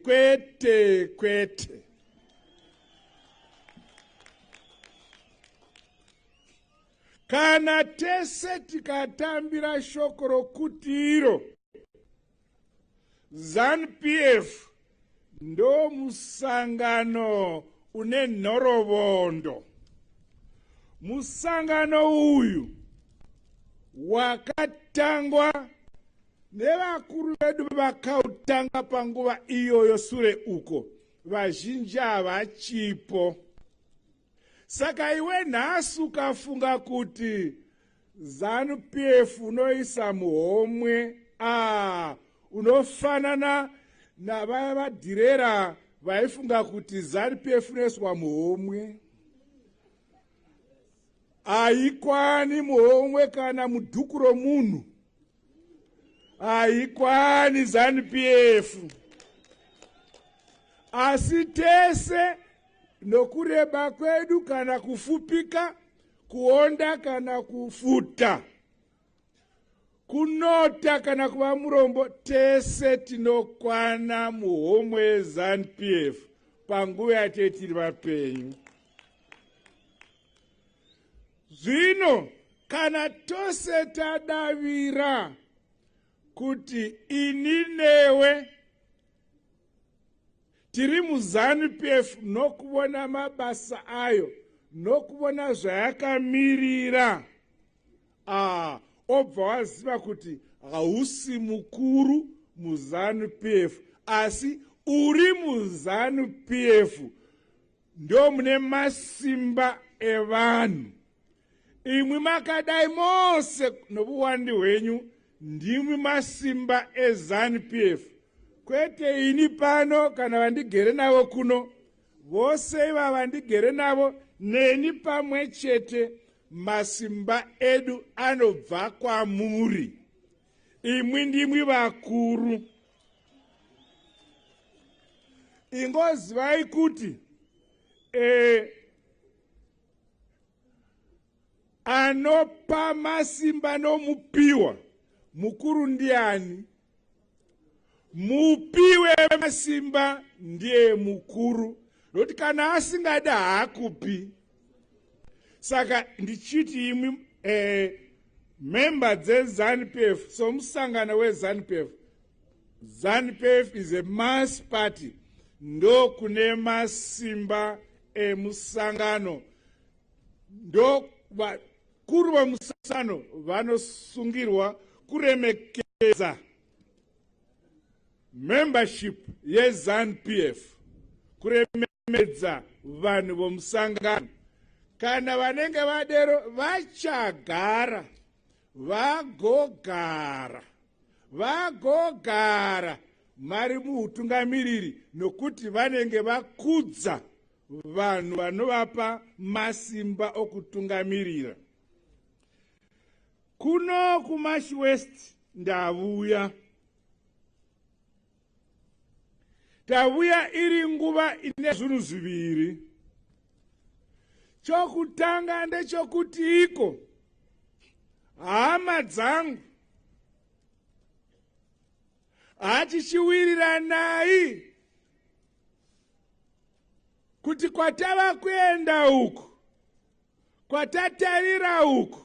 kwete kwete kana tese tikatambira shoko rokuti iro zanupf ndo musangano une nhorovondo musangano uyu wakatangwa Nevakuru vedu vakautanga panguva iyoyo sure uko, vazhinji havachipo. Saka iwe nhasi ukafunga kuti zanu pf unoisa muhomwe ah, unofanana navaya vadhirera vaifunga kuti zanu pf unoiswa muhomwe haikwani muhomwe kana mudhuku romunhu haikwani zanup f asi tese nokureba kwedu kana kufupika kuonda kana kufuta kunota kana kuva murombo tese tinokwana muhomwe yezanup f panguva yatei tiri vapenyu Zvino kana tose tadavira kuti ini newe tiri muzanu pf nokuvona mabasa ayo nokuvona zvayakamirira ah, obva waziva kuti hausi mukuru muzanu pf asi uri muzanu pf ndo mune masimba evanhu imwi makadai mose nobuwandi hwenyu ndimwi masimba ezanupf kwete ini pano kana vandigere navo kuno vose iva vandigere navo neni pamwe chete masimba edu anobva kwamuri imwi ndimwi vakuru ingozivai kuti e, anopa masimba nomupiwa mukuru ndiani mupiwe masimba ndiye mukuru nokuti kana asingadi haakupi saka ndichiti imwi eh, member dzezanupf somusangano wezanupf zanupf is a mass party ndokune masimba emusangano ndo vakuru vemusangano vanosungirwa kuremekedza membership yezanupf kuremekedza kuchemedza vanhu vomusangano kana vanenge vadero vachagara vagogara vagogara mari muutungamiriri nokuti vanenge vakudza vanhu vanovapa masimba okutungamirira kuno kumash west ndavuya tavuya iri nguva ine zvinhu zviviri chokutanga ndechokuti iko hama dzangu hatichiwiriranai kuti kwatava kuenda uku kwatatarira uku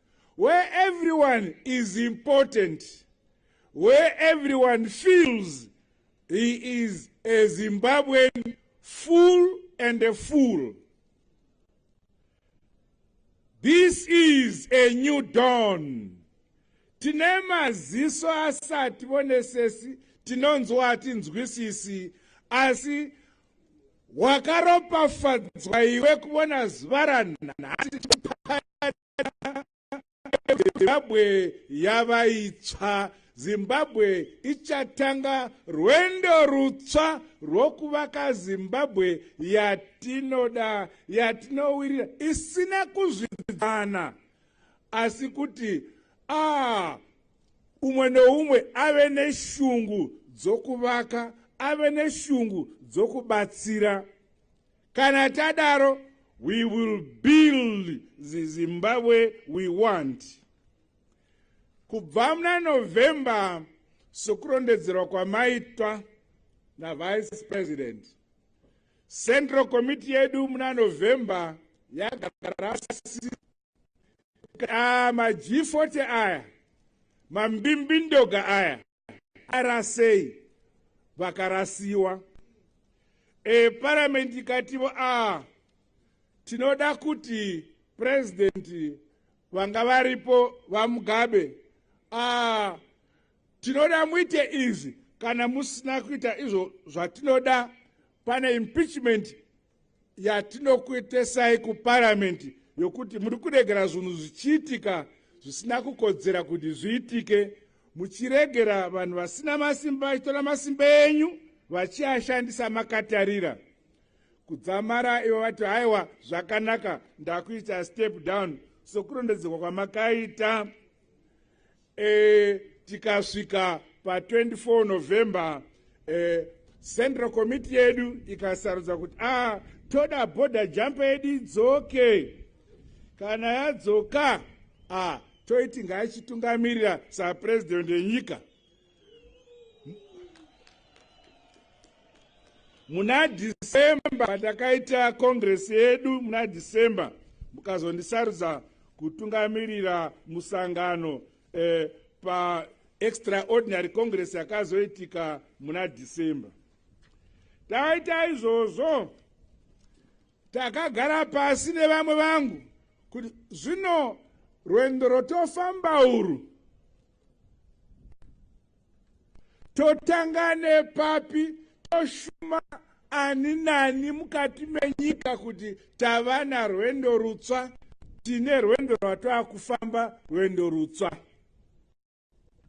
where everyone is important where everyone feels he is a zimbabwean full and a fool this is a new dawn tine maziso asati vonesesi tinonzwa hatinzwisisi asi wakaropafadzwa iwe kuvona zuva ranhasi zimbabwe yava itsva zimbabwe ichatanga rwendo rutsva rwokuvaka zimbabwe yatinoda yatinowirira isina kuzvidzana asi kuti a ah, umwe noumwe ave neshungu dzokuvaka ave neshungu dzokubatsira Kana tadaro we will build the Zimbabwe we want. Kubva muna November sokurondedzerwa kwamaitwa naVice President Central Committee yedu muna November yagara ah, maG40 aya mambimbi ndoga aya arasei vakarasiwa e, paramende ikativo a tinoda kuti purezidenti vanga varipo vamugabe a tinoda muite izvi kana musina kuita izvo zvatinoda pane impeachment yatinokuitesai kuparamende yokuti muri kuregera zvinhu zvichiitika zvisina kukodzera kuti zviitike muchiregera vanhu vasina masimba vachitora masimba enyu vachiashandisa makatarira kudzamara ivo vati haiwa zvakanaka ndakuita step down sokurondedzerwa kwamakaita e, tikasvika pa24 november e, central committee yedu ikasarudza kuti ah, toda border jump yedu idzoke kana yadzoka ah, toiti ngaachitungamirira sapresident yenyika muna december patakaita congress yedu muna december mukazondisarudza kutungamirira musangano eh, paextraordinary congress yakazoitika muna december taita izvozvo takagara pasi nevamwe vangu kuti zvino rwendo rwotofamba urwu totanga nepapi toshuma ani nani mukati menyika kuti tava narwendo rutswa tine rwendo rwatava kufamba rwendo rutswa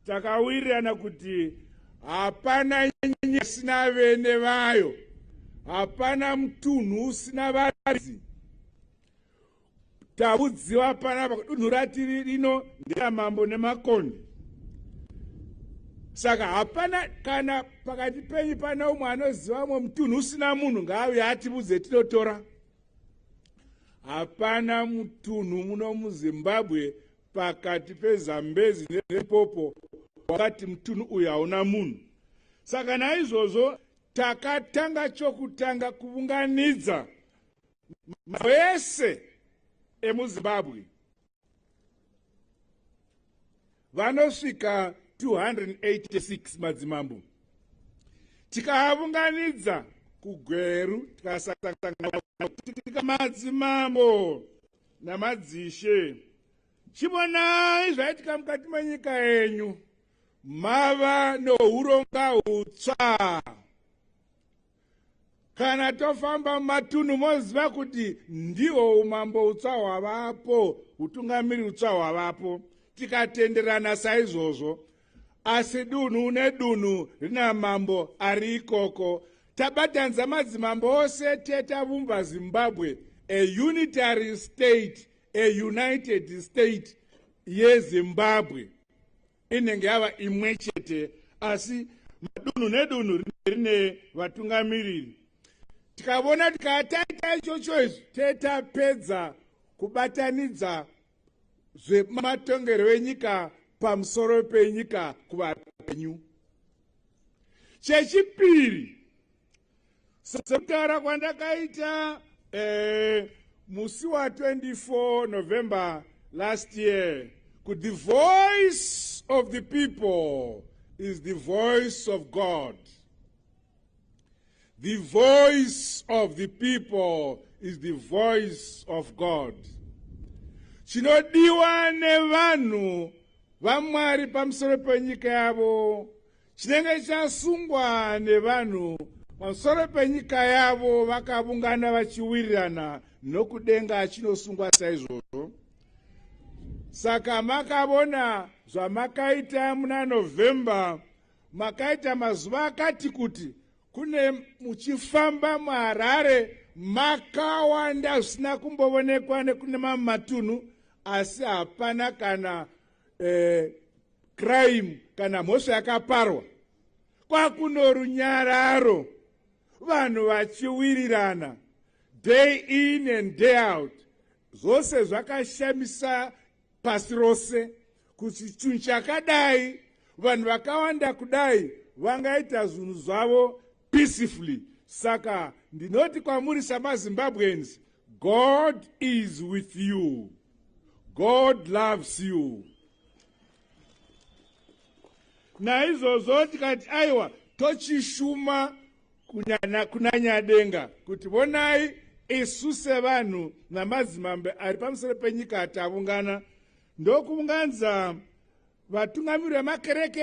takawirirana kuti hapana nyanya isina vene vayo hapana mutunhu usina vazi Tavudziwa panapa kudunhu ratiri rino nderamambo nemakonde saka hapana kana pakati penyu pana umwe anoziva umwe mutunhu usina munhu ngaave ativudze tinotora hapana mutunhu muno muzimbabwe pakati pezambezi nepopo wakati mutunhu uyu hauna munhu saka naizvozvo takatanga chokutanga kuvunganidza mazano ese emuzimbabwe vanosvika 286 madzimambo tikaavunganidza kugweru tikasatika madzimambo namadzishe chivonai zvaitika mukati menyika yenyu mava nouronga utsva kana tofamba mumatunhu moziva kuti ndihwo umambo utsva hwavapo utungamiri utsva hwavapo tikatenderana saizvozvo asi dunhu nedunhu rina mambo ari ikoko tabatanidza madzimambo ose tetavumba zimbabwe a unitary state a united state yezimbabwe inenge yava imwe chete asi madunhu nedunhu rinenge rine vatungamiriri tikavona kuti kaa taita ichocho izvi tetapedza kubatanidza zvematongerwo enyika pamusoro penyika kuvapenyu chechipiri sekudhara kwandakaita eh, musi wa 24 november last year kuti the voice of the people is the voice of god the voice of the people is the voice of god chinodiwa nevanhu vamwari pamusoro penyika yavo chinenge chasungwa nevanhu pamusoro penyika yavo vakavungana vachiwirirana nokudenga chinosungwa saizvozvo saka makavona zvamakaita muna november makaita mazuva akati kuti kune muchifamba muharare makawanda zvisina kumbovonekwa nekune mamwe matunhu asi hapana kana eh, crime kana mhosva yakaparwa kwakuno runyararo vanhu vachiwirirana day in and day out zvose zvakashamisa pasi rose kuti chinhu chakadai vanhu vakawanda kudai vangaita zvinhu zvavo peacefully saka ndinoti kwamuri samazimbabweans god is with you god loves you naizvozvo tikati aiwa tochishuma kunanyadenga kuti vonai isu sevanhu namadzimambe ari pamusoro penyika atavungana ndokuunganidza vatungamiri vemakereke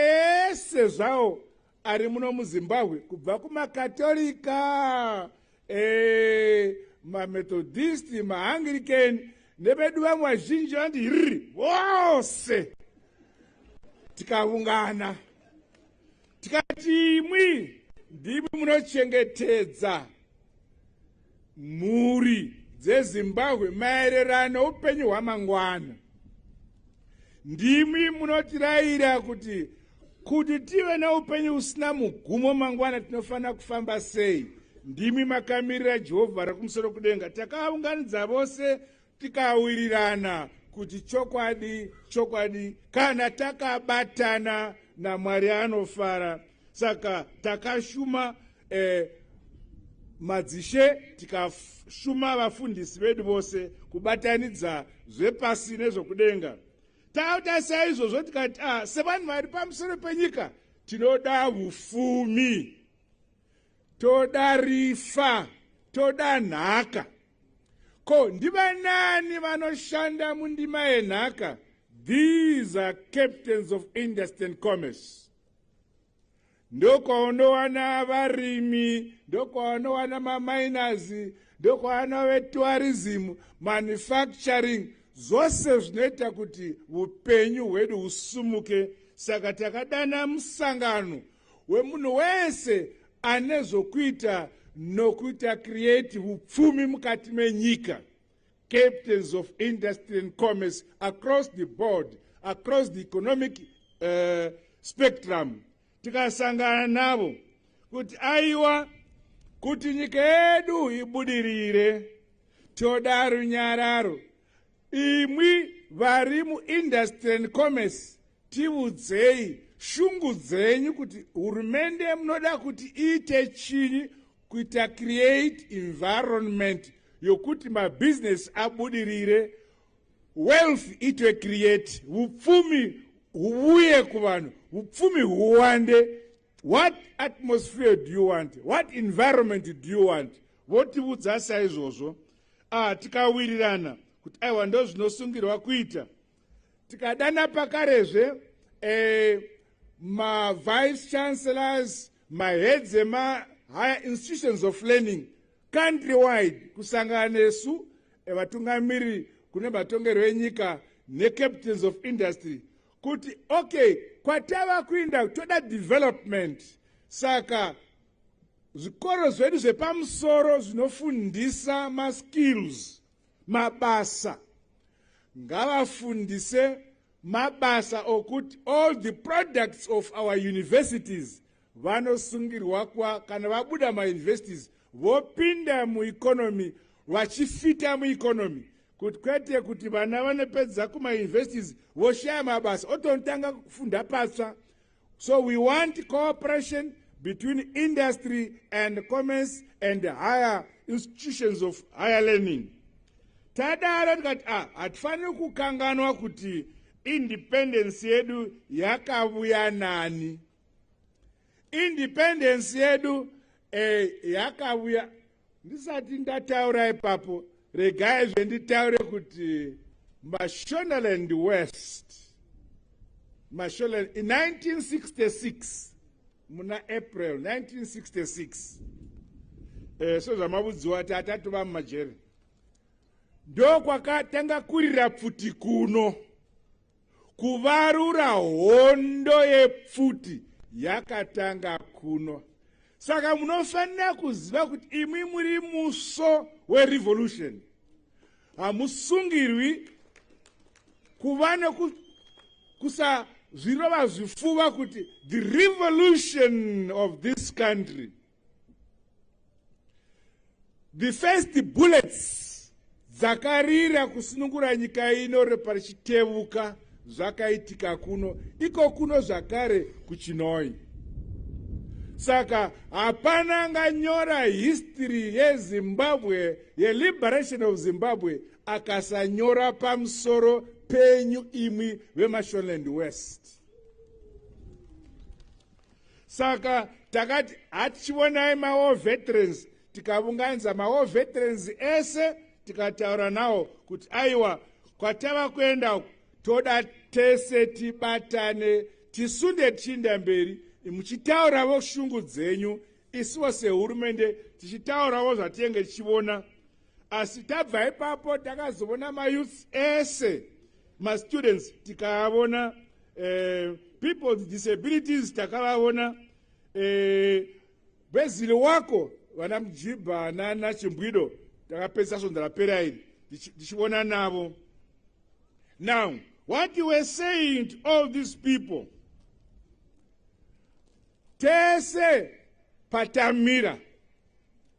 ese zvawo ari muno muzimbabwe kubva kumakatolika e, eh, mamethodisti maangirikeni nevedu vamwe vazhinji vandi hiriri vose tikaungana tikati imwi ndimi munochengetedza mhuri dzezimbabwe maererano upenyu hwamangwana ndimi munotirayira kuti kuti tive neupenyu usina mugumo mangwana tinofanira kufamba sei ndimi makamirira jehovha rekumusoro kudenga takaunganidza vose tikawirirana kuti chokwadi chokwadi kana takabatana namwari anofara saka takashuma eh, madzishe tikashuma vafundisi vedu vose kubatanidza zvepasi nezvokudenga tauta saizvozvo tikati ah, sevanhu vari pamusoro penyika tinoda ufumi toda rifa toda nhaka ko ndivanani vanoshanda mundima yenhaka these are captains of industry and commerce ndokwaunowana varimi ndokwaunowana maminers ndokwaunowana vetourism manufacturing zvose zvinoita kuti upenyu hwedu husumuke saka takadana musangano wemunhu wese ane zvokuita nokuita create upfumi mukati menyika captains of industry and commerce across the board across the economic uh, spectrum tikasangana navo kuti aiwa kuti nyika yedu ibudirire toda runyararo imwi vari muindustry and commerce tivudzei shungu dzenyu kuti hurumende munoda kuti iite chinyi kuita create environment yokuti mabhizinesi abudirire wealth itwe create vupfumi huvuye kuvanhu vupfumi huwande what atmosphere do you want what environment do you want votiudza saizvozvo ah tikawirirana kuti aiwa ndo zvinosungirwa kuita tikadana pakarezve eh, mavice chancellors maheads emahigher institutions of learning country wide kusangana nesu eh, vatungamiri kune matongerwo enyika necaptains of industry kuti okay kwatava kuinda toda development saka zvikoro zvedu zvepamusoro zvinofundisa maskills mabasa ngavafundise mabasa okuti all the products of our universities vanosungirwa kwa kana vabuda mauniversities vopinda mueconomy vachifita mueconomy kuti kwete kuti vana vanopedza kumauniversities voshaya mabasa otonotanga kufunda patsva so we want cooperation between industry and commerce and higher institutions of higher learning tadaro tikati a ah, hatifaniri kukanganwa kuti independence yedu yakavuya nani independence yedu eh, yakavuya ndisati ndataura ipapo regai zvenditaure kuti mashonaland west mashonaland in 1966 muna april 1966 eh, sezvamavudziwa ti atatova mumajeri ndokwakatanga kurira pfuti kuno kuvarura hondo yepfuti yakatanga kuno saka munofanira kuziva kuti imwi muri muso werevolution hamusungirwi kuva nekusazvirova zvifuva kuti the revolution of this country the first bullets dzakarira kusunungura nyika ino reparichitevuka zvakaitika kuno iko kuno zvakare kuchinoi saka hapana anganyora history yezimbabwe yeliberation of zimbabwe akasanyora pamusoro penyu imwi vemashonland west saka takati hatichivonai mawar veterans tikavunganidza mawar veterans ese tikataura nawo kuti aiwa kwatava kuenda uku toda tese tibatane tisunde tichiinda mberi muchitauravo shungu dzenyu isivo sehurumende tichitauravo zvatinenge tichivona asi tabva ipapo takazovona mayouths ese mastudents tikaavona eh, people with disabilities takavavona eh, bhezili wako vana mujibha nana chimbwido takapedzisa svondo rapera iri tichivona navo now what you were saying to all these people tese patamira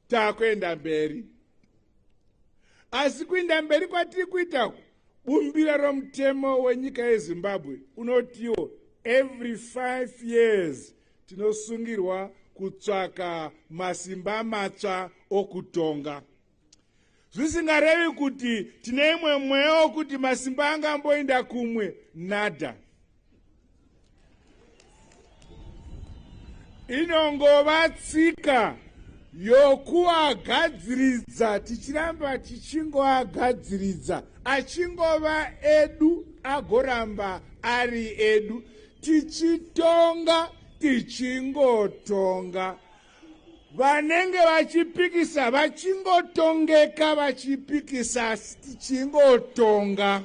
takuenda mberi asi kuinda mberi kwatiri kuita bumbiro romutemo wenyika yezimbabwe unotiwo every five years tinosungirwa kutsvaka masimba matsva okutonga zvisingarevi kuti tine imwe mweya wokuti masimba anga amboinda kumwe nada inongova tsika yokuagadziridza tichiramba tichingoagadziridza achingova edu agoramba ari edu tichitonga tichingotonga vanenge vachipikisa vachingotongeka vachipikisa chingotonga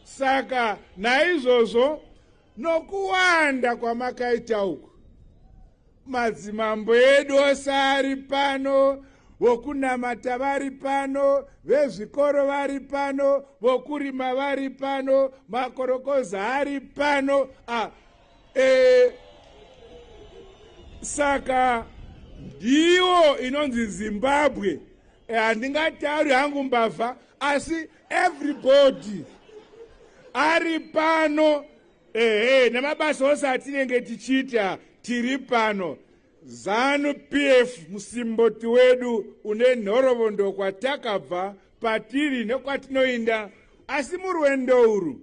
saka naizvozvo nokuwanda kwamakaita uku madzimambo edu ose ari pano vokunamata vari pano vezvikoro vari pano vokurima vari pano makorokoza ari pano ah, eh, saka ndiwo inonzi zimbabwe eh, handingatauri eh, hangu mbavha asi everybody ari pano ehe nemabasa ose atinenge tichiita tiri pano zanu pf musimboti wedu une nhorovondo kwatakabva patiri nekwatinoinda asi murwendo urwu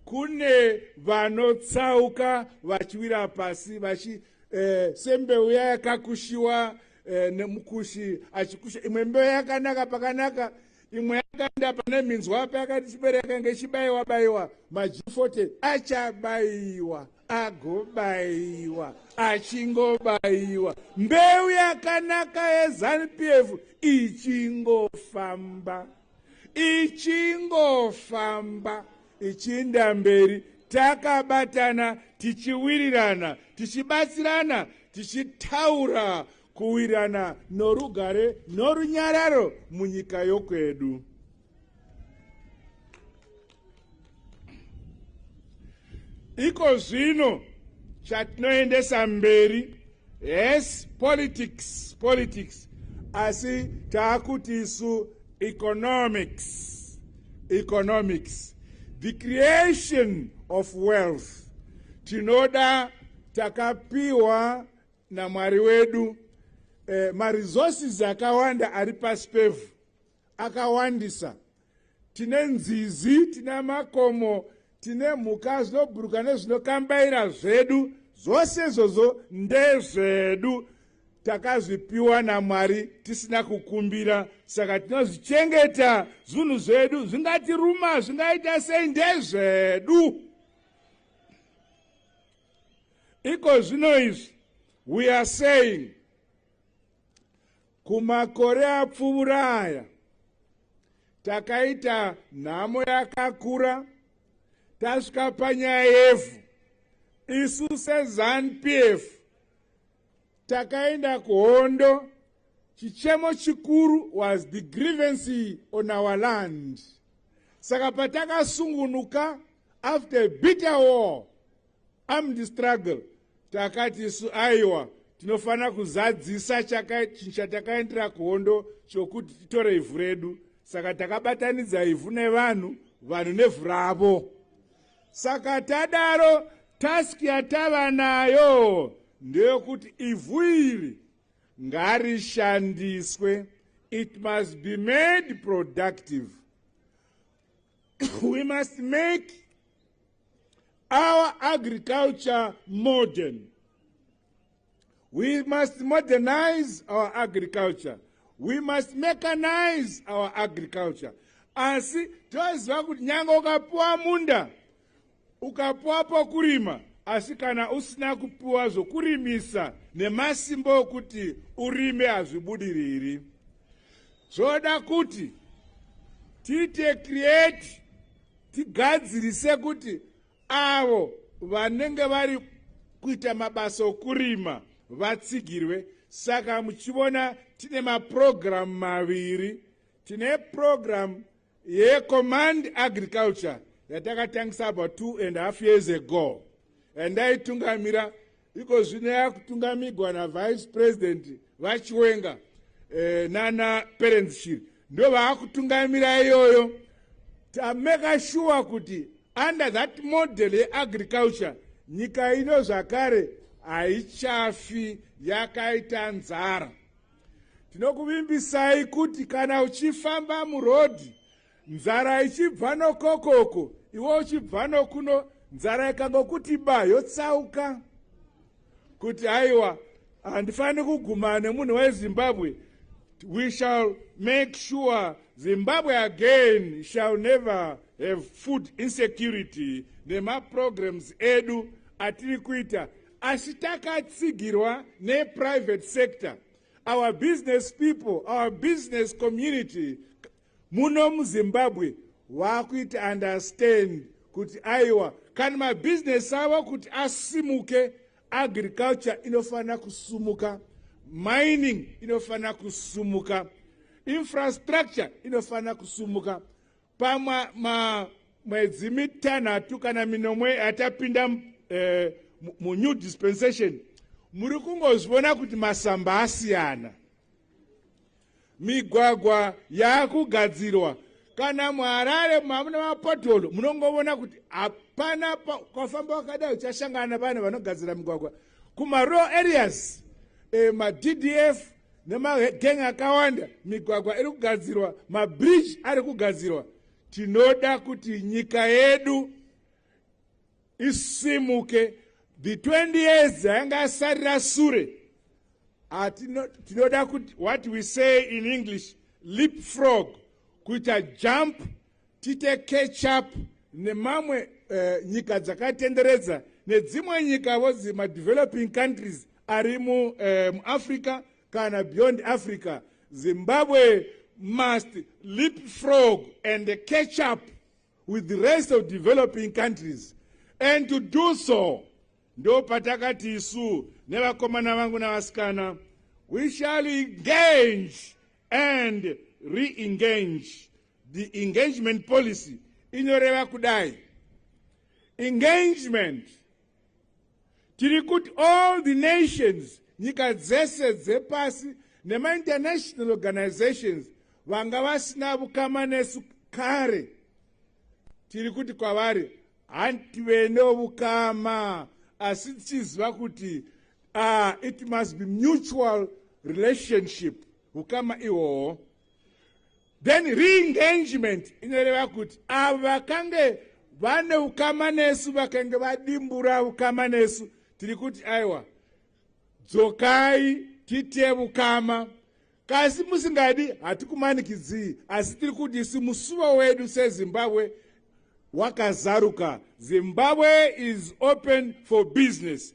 kune vanotsauka vachiwira pasi vachi eh, sembeu ya yakakushiwa eh, nemukushi achikusha imwe mbeu yakanaka pakanaka imwe yakaenda pane minzwa ape akati chibere yakange ichibaiwa baiwa majifote achabaiwa agobaiwa achingobaiwa mbeu yakanaka yezanup f ichingofamba ichingofamba ichiinda mberi takabatana tichiwirirana tichibatsirana tichitaura kuwirana norugare norunyararo munyika yokwedu. Iko zvino chatinoendesa mberi yes politics politics asi taakuti isu economics economics the creation of wealth tinoda takapiwa namwari wedu eh, maresources akawanda ari pasi pevhu akawandisa tine nzizi tine makomo tine mhuka zvinobhuruka nezvinokambaira zvedu zvose izvozvo ndezvedu takazvipiwa namwari tisina kukumbira saka tinozvichengeta zvinhu zvedu zvingatiruma zvingaita sei ndezvedu iko zvino izvi we are saying kumakore apfuvura aya takaita nhamo yakakura tasvika panyaya yevhu isu sezanupf takaenda kuhondo chichemo chikuru was the grievance on our land saka patakasungunuka after a bitter war armed struggle takati isu aiwa tinofanira kuzadzisa chinhu chatakaendera kuhondo chokuti titore ivhu redu saka takabatanidza ivhu nevanhu vanhu nevhu ravo saka tadaro task yatava nayo ndeyokuti ivhu iri ngarishandiswe it must be made productive we must make our agriculture modern We must modernize our agriculture. We must mechanize our agriculture. Asi toziva kuti nyange ukapiwa munda, ukapiwa pokurima, asi kana usina kupiwa zvokurimisa nemasimba okuti urime hazvibudiriri. Zvoda kuti tiite create tigadzirise kuti avo vanenge vari kuita mabasa okurima vatsigirwe saka muchivona tine mapurogiramu maviri tine purogiramu yecommand agriculture yatakatangisa about two and half years ago yandaitungamira iko zvino yakutungamigwa navice president vachiwenga eh, nana parents shiri ndo vaakutungamira iyoyo tameka shuwa kuti under that model yeagriculture nyika ino zvakare haichafi yakaita nzara tinokuvimbisai kuti kana uchifamba murodhi nzara ichibva nokokoko iwe uchibva nokuno nzara ikangokuti ba yotsauka kuti aiwa handifaniri kugumana nemunhu wezimbabwe we shall make sure zimbabwe again shall never have food insecurity nemaprograms edu atiri kuita asi takatsigirwa neprivate sector our business people our business community Muno muZimbabwe wakuita understand kuti aiwa kana mabusiness avo kuti asimuke agriculture inofanira kusumuka mining inofanira kusumuka infrastructure inofanira kusumuka pamwe mwedzi mitanhatu kana minomwe yatapinda eh, munew dispensation muri kungozvivona kuti masamba asiyana migwagwa yaakugadzirwa kana muharare mamuna mapotolo munongovona kuti hapana kwafamba wakadai uchashangana navanhu vanogadzira migwagwa kumarow areas e, maddf nemageng akawanda migwagwa iri kugadzirwa mabridge ari kugadzirwa tinoda kuti nyika yedu isimuke the 20 years ayanga asarira sure tinoda kuti what we say in english leap frog kuita jump tite catch up nemamwe uh, nyika dzakatenderedza nedzimwe nyika vozi madeveloping countries ari eh, muafrica uh, kana beyond africa zimbabwe must leap frog and catch up with the rest of developing countries and to do so ndo patakati isu nevakomana vangu navasikana we shall engage and re-engage the engagement policy inoreva kudai engagement tiri kuti all the nations nyika dzese dzepasi nemainternational organizations vanga vasina vukama nesu kare tiri kuti kwavari hantive neovukama asi tichiziva kuti uh, it must be mutual relationship vukama ihwohwo then reengagement inoreva kuti avo vakange vane ukama nesu vakange vadimbura ukama nesu tiri kuti aiwa dzokai tiite ukama kasi musingadi hatikumanikidzii asi tiri kuti si musuvo wedu sezimbabwe wakazaruka zimbabwe is open for business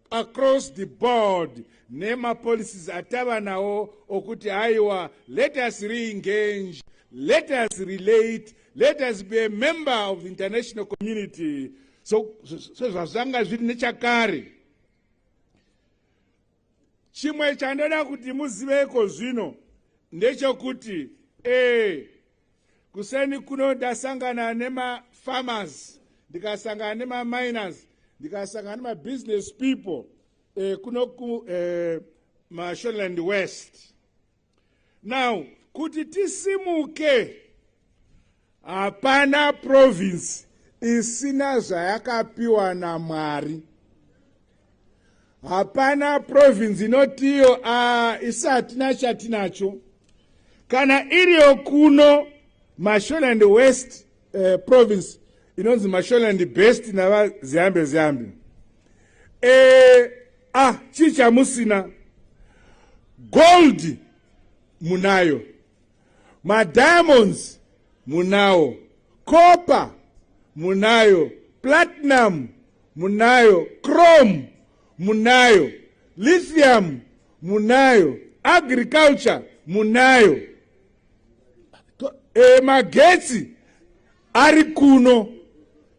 across the board nemapolicies atava nawo okuti haiwa let us reengage let us relate let us be a member of the international community so sezvazvanga zviri nechakare chimwe chandoda kuti muziveko zvino ndechokuti e kuseni kuno ndasangana nemafarmers ndikasangana nemaminers ndikasangana nemabusiness people eh, kuno ku eh, mashoreland west now kuti tisimuke hapana province isina zvayakapiwa namwari hapana province inotiyo a isatina chatinacho kana iriyo kuno masholand west eh, province inonzi masholand best navaziyambe ziyambe eh, ah chii chamusina gold munayo madiamonds munawo copper munayo platinum munayo chrome munayo lithium munayo agriculture munayo e, magetsi ari kuno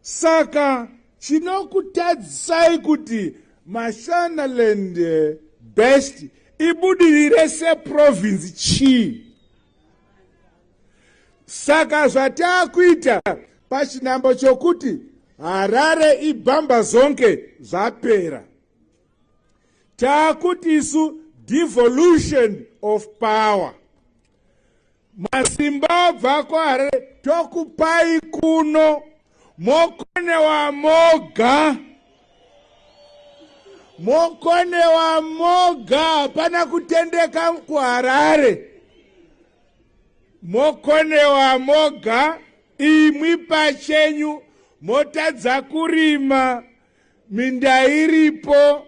saka chinokutadzisai kuti mashanaland eh, best ibudirire seprovince chii saka zvataakuita pachinambo chokuti harare ibhamba zonke zvapera taakuti isu devolution of power masimba obva kwaharare tokupai kuno mokonewa moga mokonewa moga hapana kutendeka kuharare mokonewa moga imwi pachenyu motadza kurima minda iripo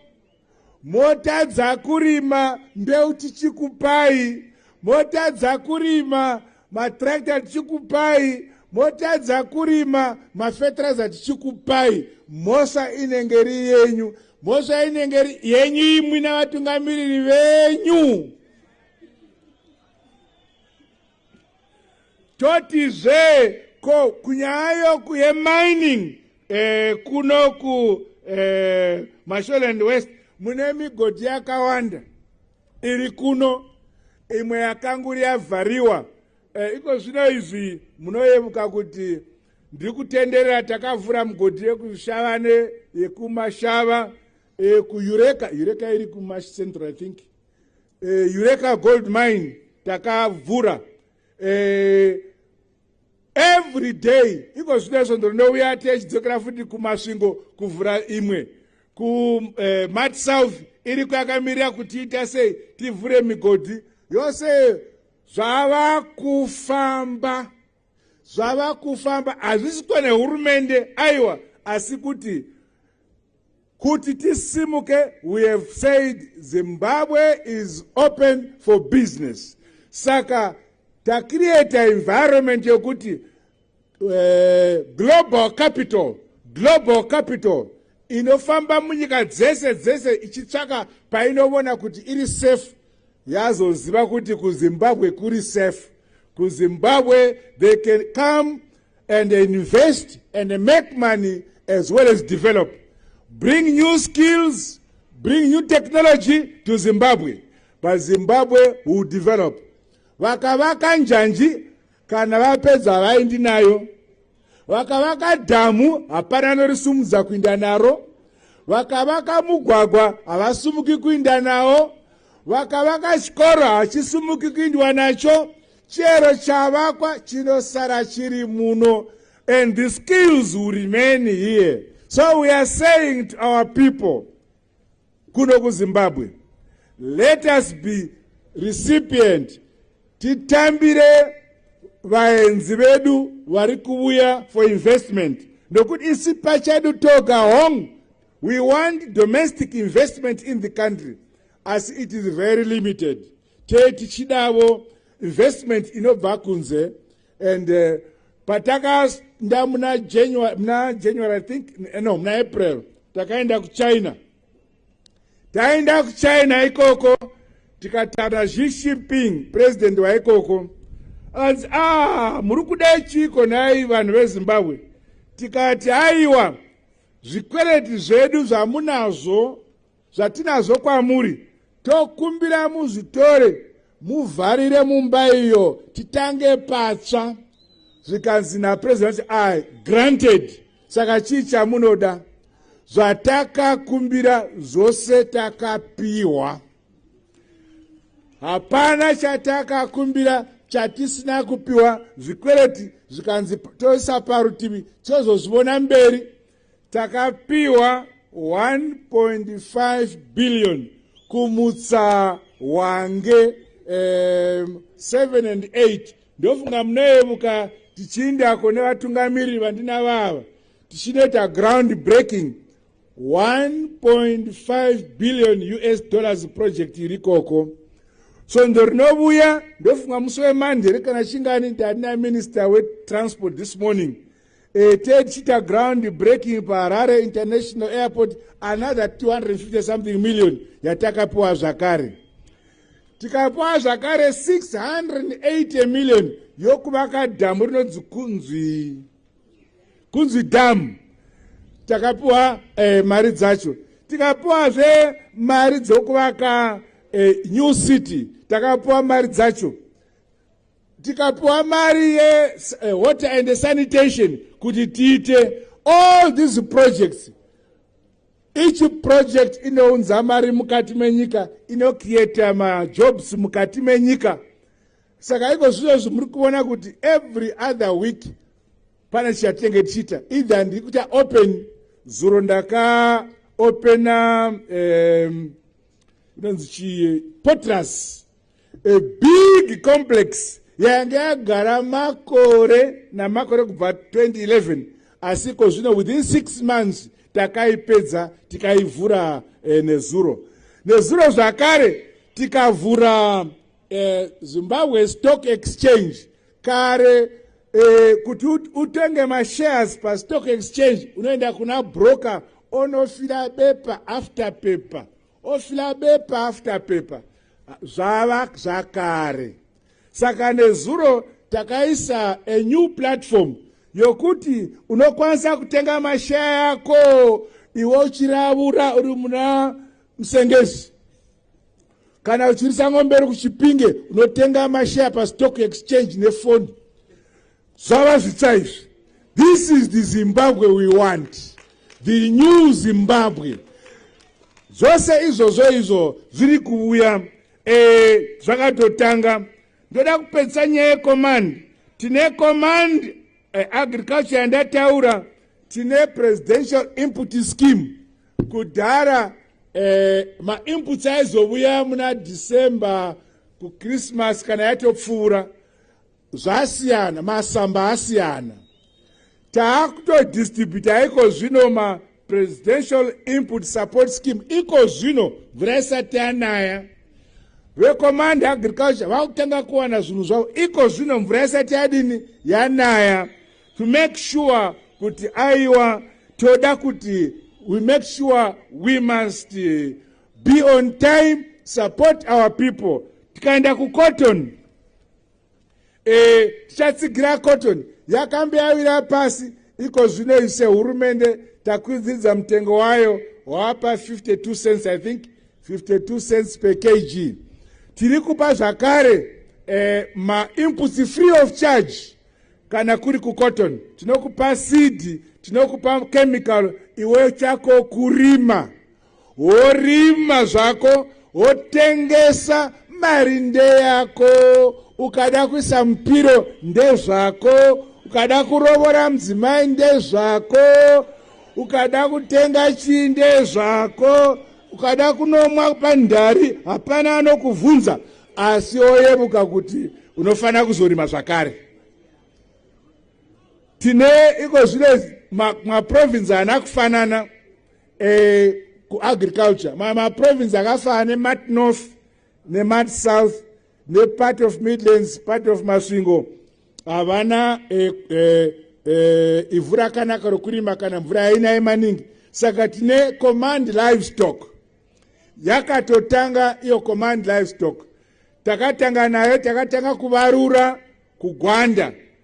motadza kurima mbeu tichikupai motadza kurima matrakta tichikupai motadza kurima mafetiraiza tichikupai mhosva inenge ri yenyu mhosva inenge ri yenyu imwi navatungamiriri venyu totizve ko kunyaya yoku yemining eh, kuno ku eh, masholand west mune migodhi yakawanda iri kuno imwe yakanguri yavhariwa eh, iko zvino izvi munoyemuka kuti ndiri kutenderera takavhura mugodhi yekushavane yekumashava eh, kuyureka yureka iri kumashcentral i think uh, eureka gold mine takavhura uh, every day iko zvino izvo ndonouya tichidzokera futi kumasvingo kuvhura imwe kumat eh, south iri kwakamirira kuti ita sei tivhure migodhi yose zvava kufamba zvava kufamba hazvisi kwane hurumende aiwa asi kuti kuti tisimuke we have said zimbabwe is open for business saka tacreata environment yokuti uh, global capital global capital inofamba munyika dzese dzese ichitsvaka painovona kuti iri safe yazoziva kuti kuzimbabwe kuri safe kuzimbabwe they can come and invest and make money as well as develop bring new skills bring new technology to zimbabwe but zimbabwe will develop vakavaka njanji kana vapedza havaindi nayo vakavaka dhamu hapana anorisumudza kuinda naro vakavaka mugwagwa havasumuki kuinda nawo vakavaka chikoro hachisumuki kuindwa nacho chero chavakwa chinosara chiri muno and the skills will remain here so we are saying to our people kuno kuzimbabwe let us be recipient titambire vaenzi vedu vari kuuya for investment nokuti isi pachedu toga hong we want domestic investment in the country asi it is very limited tee tichidavo investment inobva kunze and uh, patakaenda muna january muna january i think eh, no muna april takaenda kuchina taenda kuchina ikoko tikatana xi shipping president waikoko anzi ah muri kudai chiiko nhai vanhu vezimbabwe tikati aiwa zvikwereti zvedu zvamunazvo zvatinazvo kwamuri tokumbira muzvitore muvharire mumba iyo titange patsva zvikanzi napresident i granted saka chii chamunoda zvatakakumbira zvose takapiwa hapana chatakakumbira chatisina kupiwa zvikwereti zvikanzi toisa parutivi tozozvivona mberi takapiwa 1.5 billion kumutsa wange um, 7 and 8 ndofunga munoyevuka tichiindako nevatungamiriri vandina vava tichinoita ground breaking 1.5 billion us dollars project iri koko svondo rinovuya ndofunga musi wemandere kana chingani ndandina minister wetransport this morning A third cheetah ground breaking paharare international airport another 250 something million yatakapiwa zvakare tikapiwa zvakare 680 million yokuvaka dhamu rinonzi kunzwi kunzwi dhamu takapiwa eh, mari dzacho tikapiwazve mari dzokuvaka eh, new city takapiwa mari dzacho tikapiwa mari yewater eh, and sanitation kuti tiite all these projects each project inounza mari mukati menyika inocreata majobs mukati menyika saka iko zvizvozvi muri kuona kuti every other week pane chatenge tichiita either ndiri kuita open zuro ndakaopena um, inonzi chii potras a big complex yange yagara makore namakore kubva 2011 asi ko zvino within six months takaipedza tikaivhura eh, nezuro nezuro zvakare tikavhura eh, zimbabwe stock exchange kare eh, kuti utenge mashares pastock exchange unoenda kuna broker onofira bepa after paper ofila bepa after paper zvava zvakare saka nezuro takaisa a new platform yokuti unokwanisa kutenga mashaya ako iwe uchiravura uri muna musengezi kana uchirisa ng'ombe iri kuchipinge unotenga mashaya pastock exchange nefoni zvava zvitsa izvi this is the zimbabwe we want the new zimbabwe zvose izvozvo izvo zviri kuuya eh, zvakatotanga ndoda kupedzisa nyaya yecommand tine command eh, agriculture yandataura tine presidential input scheme kudhara eh, mainputs aizovuya muna december kuchristmas kana yatopfuura zvasiyana masamba asiyana taakutodistributa iko zvino mapresidential input support scheme iko zvino mvura isati yanaya vecommand agriculture vakutanga kuwana zvinhu zvavo iko zvino mvura yasati yadini yanaya to make sure kuti aiwa toda kuti we make sure we must eh, be on time support our people tikaenda kucotton e, tichatsigira cotton yakambe yawira pasi iko zvino ise hurumende takwidzidza mutengo wayo wapa 52 cents i think 52 cents per kg tiri kupa zvakare eh, mainputs free of charge kana kuri kucotton tinokupa seed tinokupa chemical iwe chako kurima worima zvako wotengesa mari ndeyako ukada kuisa mupiro ndezvako ukada kurovora mudzimai ndezvako ukada kutenga chii ndezvako ukada kunomwa pandhari hapana anokuvhunza asi oyemuka kuti unofanira kuzorima zvakare tine iko zvino maprovinsi ana kufanana eh, kuagriculture maprovince akafanana nemat north nemat south nepart of midlands part of masvingo havana eh, eh, eh, ivhu rakanaka rokurima kana mvura yainaye maningi saka tine command livestock yakatotanga iyo command livestock takatanga nayo takatanga kuvarura kugwanda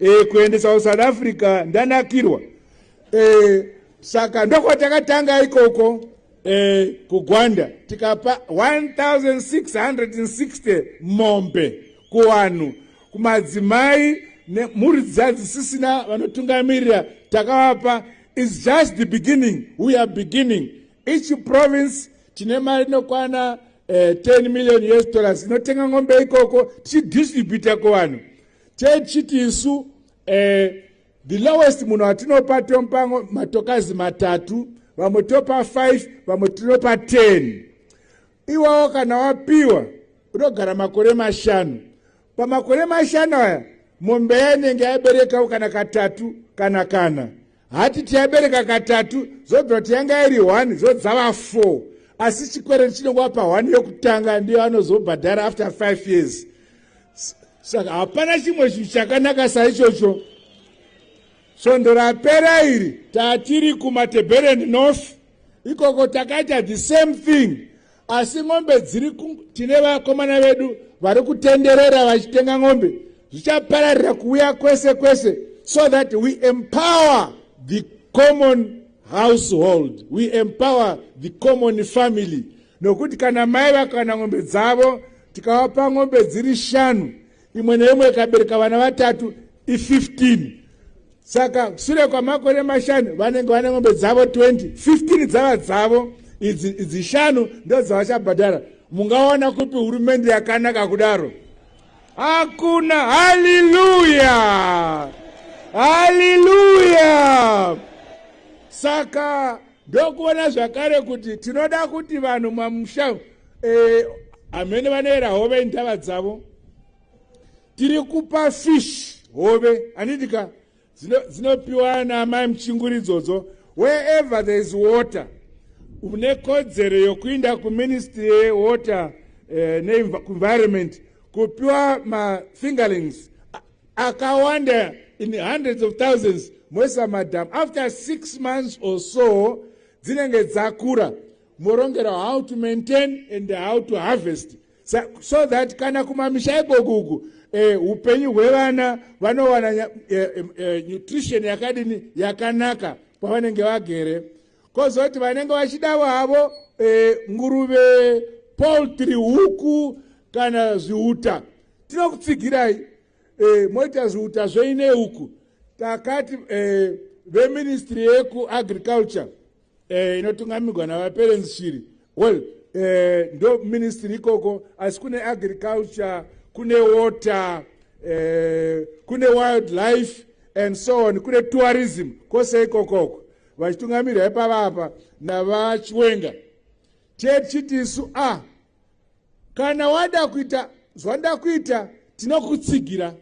e, kuendesa kusouth africa ndanakirwa e, saka ndokwatakatanga ikoko e, kugwanda tikapa 1660 mombe kuvanhu kumadzimai nemhuri dziya dzisisina vanotungamirira takavapa is just the beginning we are beginning each province tine mari inokwana uh, eh, 10 million us dollars inotenga ngombe ikoko tichidistributa kuvanhu techiti isu eh, the lowest munhu atinopa tompango matokazi matatu vamwe topa 5 vamwe tinopa 10 iwawo kana wapiwa unogara makore mashanu pamakore mashanu aya mombe yainenge yaberekawo kana katatu kana kana hati tiyabereka katatu zobva kuti yanga iri one zodzava four asi chikwereti chinenge wapa one yokutanga ndiyo anozobhadhara after five years saka hapana chimwe chinhu chakanaka saichocho svondo rapera iri tatiri kumatebereni north ikoko takaita the same thing asi n'ombe dziri tine vakomana vedu vari kutenderera vachitenga n'ombe zvichapararira kuuya kwese kwese so that we empower the common household we empower the common family nokuti kana mai vakana n'ombe dzavo tikavapa n'ombe dziri shanu imwe neimwe ikabereka vana vatatu i15 saka sure kwamakore mashanu vanenge vane ngombe dzavo 20 15 dzava dzavo idzi idzi shanu ndo dzavachabhadhara mungaona kupi hurumende yakanaka kudaro hakuna haleluya haleluya saka ndokuona zvakare kuti tinoda kuti vanhu mamusha eh, amene vanoera hove indava dzavo tiri kupa fish hove anidika dzinopiwa zino naamai muchinguri idzodzo wherever there is water une kodzero yokuinda kuministry yewater eh, neenvironment kupiwa mafingerlings akawanda in hundreds of thousands moisa madam after six months or so dzinenge dzakura morongera how to maintain and how to harvest so, so that kana kumamisha ikokuku eh, upenyu hwevana vanowana eh, eh, eh, nutrition yakadini yakanaka kwavanenge vagere kozoti vanenge vachidavo havo e, nguruve poultry huku kana zviuta tinokutsigirai e, moita zviuta zveine huku takati e, veministry yekuagriculture e, inotungamirwa navaperenzi shiri well eh, ndo ministry ikoko asi kune agriculture kune water eh, kune wildlife and so on kune tourism kwose ikokoko vachitungamirwa ipava apa navachiwenga chechiti isu a ah, kana wada kuita zvandakuita tinokutsigira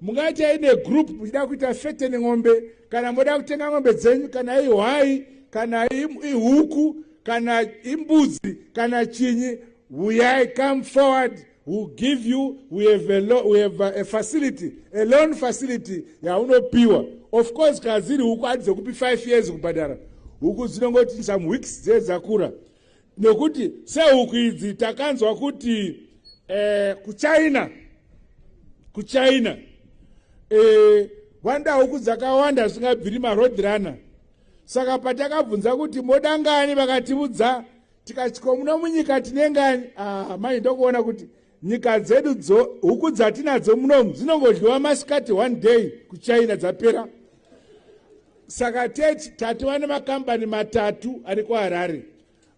mungaitai negroup muchida kuita fete nen'ombe kana moda kutenga n'ombe dzenyu kana ihwai kana ihuku kana imbudzi kana chinyi huyai come forward will give you we have a, lo, we have a facility a loan facility yaunopiwa of course kana dziri huku adzi dzekupi 5 years kubhadhara huku dzinongoti some weeks dzee dzakura nokuti sehuku idzi takanzwa kuti eh, kuchina kuchina eh, vanda huku dzakawanda zvisingabviri maroad runner saka patakabvunza kuti moda ngani vakatiudza tikatikomuno munyika tine ngani ah, mai ndokuona kuti nyika dzedu dzo huku dzatinadzo munomu dzinongodliwa masikati one day kuchina dzapera saka tete tatova nemakambani matatu ari kuharare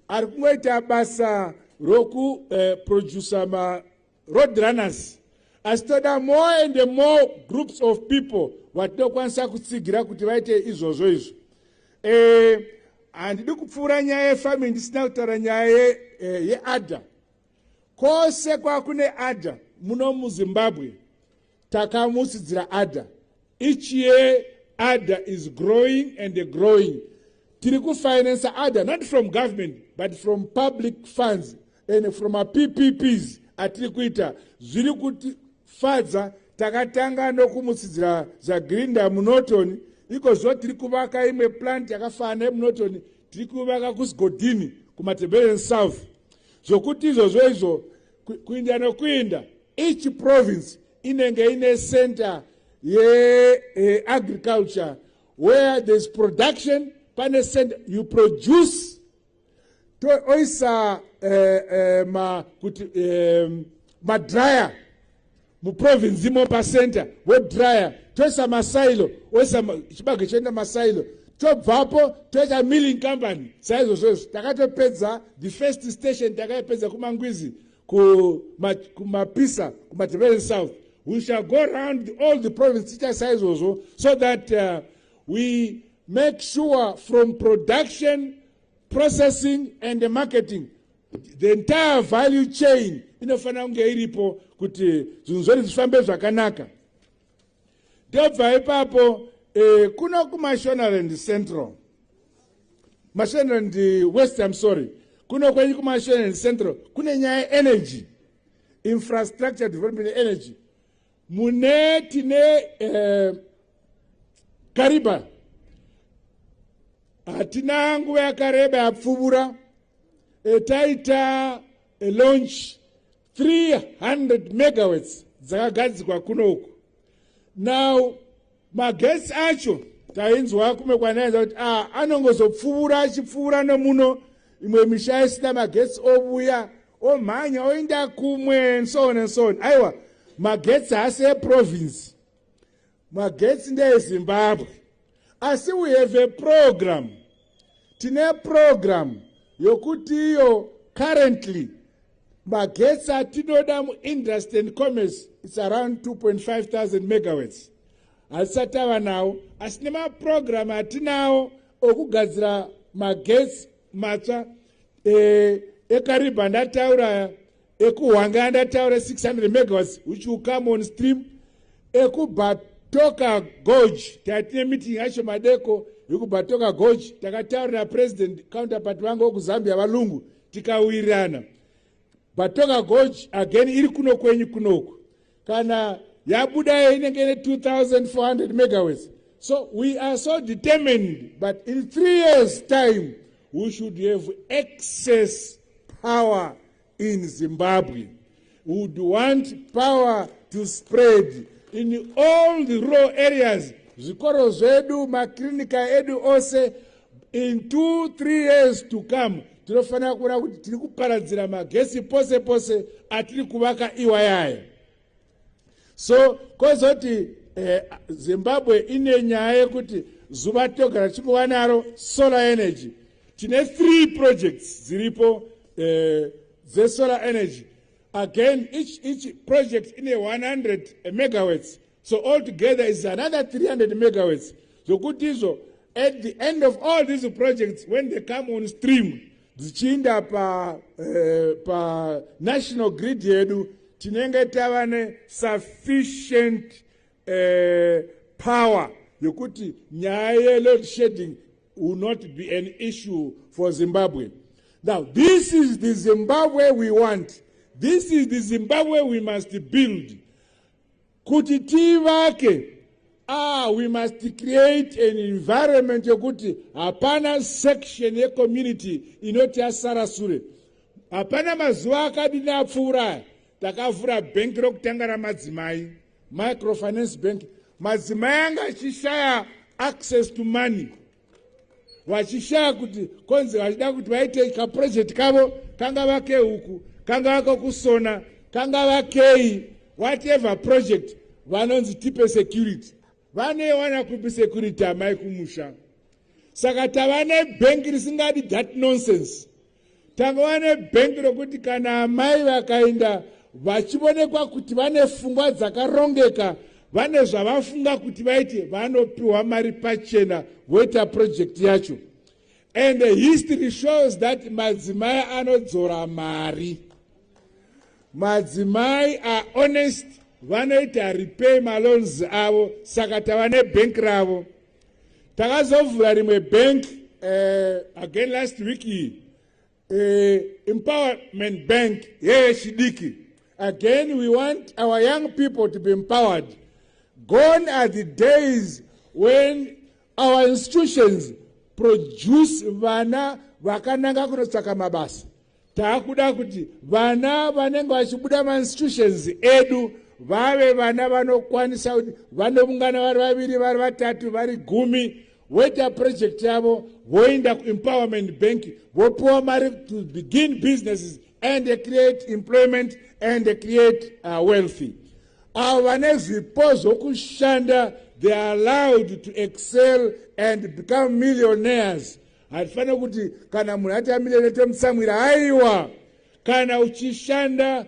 ari kungoita basa rokuproducer eh, maroad runners asi toda more and more groups of people vatinokwanisa kutsigira kuti vaite izvozvo izvo eh, handidi eh, kupfuura nyaya yefaming ndisina kutaura nyaya eh, yeadha ye Kose kwakune adha muno muzimbabwe takamusidzira adha each year adha is growing and growing tiri kufinansa adha not from government but from public funds and from apps atiri kuita zviri kutifadza takatanga nokumusidzira zagrinda munoton ikozvo tiri kuvaka imwe plant yakafanana yemunoton tiri kuvaka kusigodhini kumateberen south zvokuti izvozvo izvo kuinda nokuinda each province inenge ine center yeagriculture eh, where thereis production pane center you produce toisa eh, eh, ma, kuti eh, madryer muprovince imo pacenter vodryer toisa masailo oisa chibage choenda masailo tobvapo toita milling company saizvozvo izvo takatopedza the first station takaipedza kumangwizi kumapisa kumadevelopment south we shall go round all the province tiita saizvozvo so that uh, we make sure from production processing and marketing the entire value chain inofanira kunge iripo kuti zvinhu zvori zvifambe zvakanaka ndobva ipapo eh, kuno kumashonerand central mashonerand west im sorry kuno kwenyu kumashonerand central kune nyaya yeenergy infrastructure development energy mune tine eh, kariba hatina nguva yakareba yapfuvura e, taita e, launch 300 megawats dzakagadzikwa kuno uku now magesi acho tainzwa kumwe kwanaenza kuti a ah, anongozopfuura achipfuura nomuno imwe misha isina magesi ovuya omhanya oenda kumwe and so on and so on aiwa magetsi haasi eprovince magetsi ndeezimbabwe asi we have a program tine program yokuti iyo currently magetsi atinoda muindustry and commerce its around 2.5000 megawats hatisati ava nawo asi nemaprogramu atinawo okugadzira magetsi matsva eh, ekariba ndataura ekuhwanga andataura 600 megawats which will come on stream ekubatoka gorge tatine meeting yacho madeko yekubatoka gorge takataura napresident counterpart vangu wekuzambia valungu tikawirirana batoka gorge again iri kuno kwenyu kunoku kana yabuda inenge ine 2400 megawats so we are so determined but in three years time we should have excess power in zimbabwe would want power to spread in all the rural areas zvikoro zvedu maklinika edu ose in two three years to come tinofanira kuona kuti tiri kuparadzira magesi pose pose atiri kuvaka iwayaya so kozoti eh, zimbabwe ine nyaya yekuti zuva togara tichikuva naro solar energy tine three projects dziripo eh, dzesolar energy again each, each project ine 100 megawats so all together is another 300 megawats zvokuti izvo at the end of all these projects when they come on stream dzichiinda pa, eh, pa national grid yedu tinenge tava nesufficient eh, power yokuti nyaya yeload shedding will not be an issue for zimbabwe now this is the zimbabwe we want this is the zimbabwe we must build kuti tivake ah we must create an environment yekuti hapana section yecommunity inoti yasara sure hapana mazuva akadini apfuura aya takavhura bhengi rokutanga ramadzimai microfinance bank madzimai anga achishaya access to money vachishaya kuti konzi vachida kuti vaite kaprojekti kavo kangava kehuku kangava kokusona kangava kei whatever project vanonzi tipe security vanoiwana kupi security amai kumusha saka tava nebhengi risingadi that nonsense takava nebhengi rokuti kana amai vakaenda vachionekwa kuti vane fungwa dzakarongeka vane zvavafunga kuti vaite vanopiwa mari pachena voita purojekti yacho and the history shows that madzimai anodzora mari madzimai are honest vanoita repay maloans avo saka tava nebhenki ravo takazovhura rimwe bank uh, again last week iyi uh, empowerment bank yeyechidiki again we want our young people to be empowered gone are the days when our institutions produce vana vakananga kunotsvaka mabasa takuda kuti vana vanenge vachibuda mainstitutions edu vave vana vanokwanisa kuti vanoungana vari vaviri vari vatatu vari gumi voita project yavo voenda kuempowerment bank vopiwa mari to begin businesses and they create employment and they create uh, wealthy avo vane zvipo zvokushanda they are allowed to excel and become millionaires hatifanire kuti kana munhu ati amire netomusamwira aiwa kana uchishanda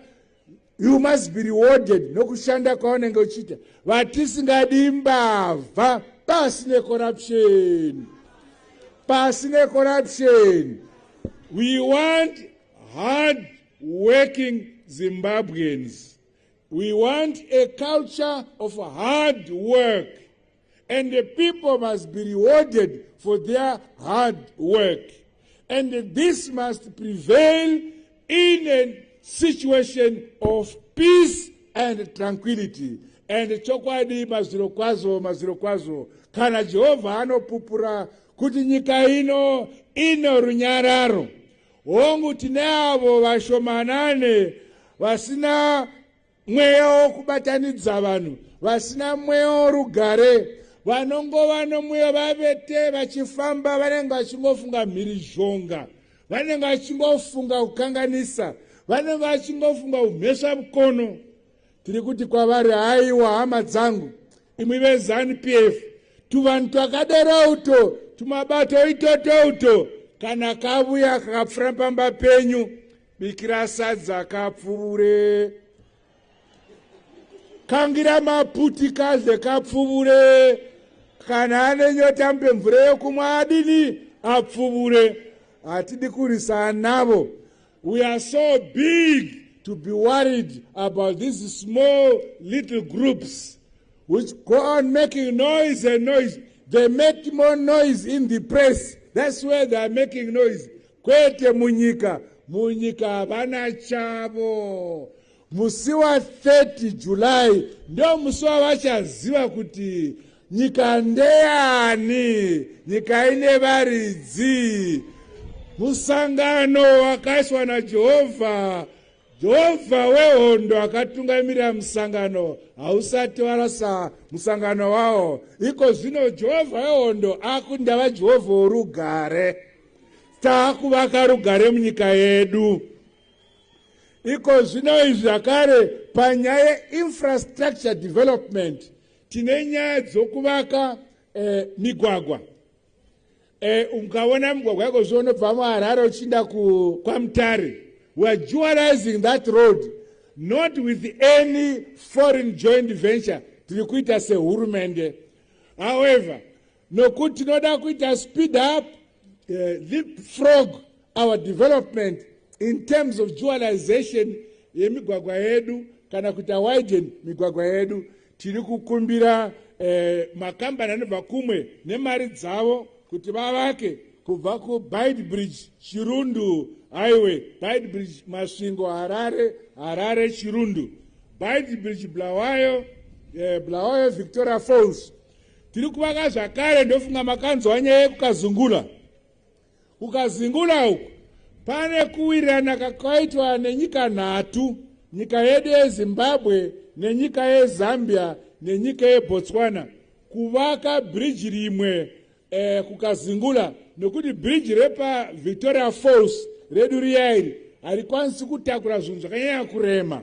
you must be rewarded nokushanda kwaunenge uchiita vatisingadi mbavha pasi necorruption pasi necorruption we want hard working zimbabweans we want a culture of hard work and the people must be rewarded for their hard work. And this must prevail in a situation of peace and tranquility. And chokwadi mazviro kwazo mazviro kwazo kana Jehovha anopupura kuti nyika ino ino runyararo hongu tine avo vashomanane vasina Mweya wokubatanidza vanhu vasina mweya worugare vanongova nomweya vavete vachifamba vanenge vachingofunga mhirizhonga vanenge vachingofunga kukanganisa vanenge vachingofunga umhesva mukono tiri kuti kwavari haiwa hama dzangu imwi vezanup f tuvanhu twakadero uto tumabato itoto uto kana kavuya kakapfura pamba penyu bikira sadza kapfuvure kangira maputi kadle kapfuvure kana ane nyota mpe mvura yekumwa adini apfuvure hatidi kurisana navo we are so big to be worried about these small little groups which go on making noise and noise they make more noise in the press that's where they are making noise kwete munyika munyika havana chavo musi wa 30 july ndo musi wavachaziva kuti nyika ndeyani nyika ine varidzi musangano wakaiswa najehovha jehovha wehondo akatungamirira musangano hausati warasa musangano wawo iko zvino jehovha wehondo akundava jehovha worugare taakuvaka rugare munyika yedu iko zvino izvi zvakare panyaya yeinfrastructure development tine nyaya dzokuvaka eh, migwagwa eh, ukaona migwagwa yako zvo unobva muharare uchiinda kwamutare weare dualizing that road not with any foreign joint venture tiri kuita sehurumende however nokuti tinoda kuita speed up uh, leapfrog our development in terms of dualization yemigwagwa yedu kana kuita widen migwagwa yedu tiri kukumbira eh, makambani anobva kumwe nemari dzavo kuti vavake kubva kubide bridge chirundu highway bide bridge masvingo harare harare chirundu bide bridge blawayo eh, blawayo victoria falls tiri kuvaka zvakare ndofunga makanzwa nyaya yekukazungula kukazingula uku pane kuwirirana kakaitwa nenyika nhatu nyika yedu yezimbabwe nenyika yezambia nenyika yebotswana kuvaka bhiriji rimwe eh, kukazingula nokuti bhiriji repavictoria falls redu riya iri harikwanisi kutakura zvinhu zvakanyanya kurema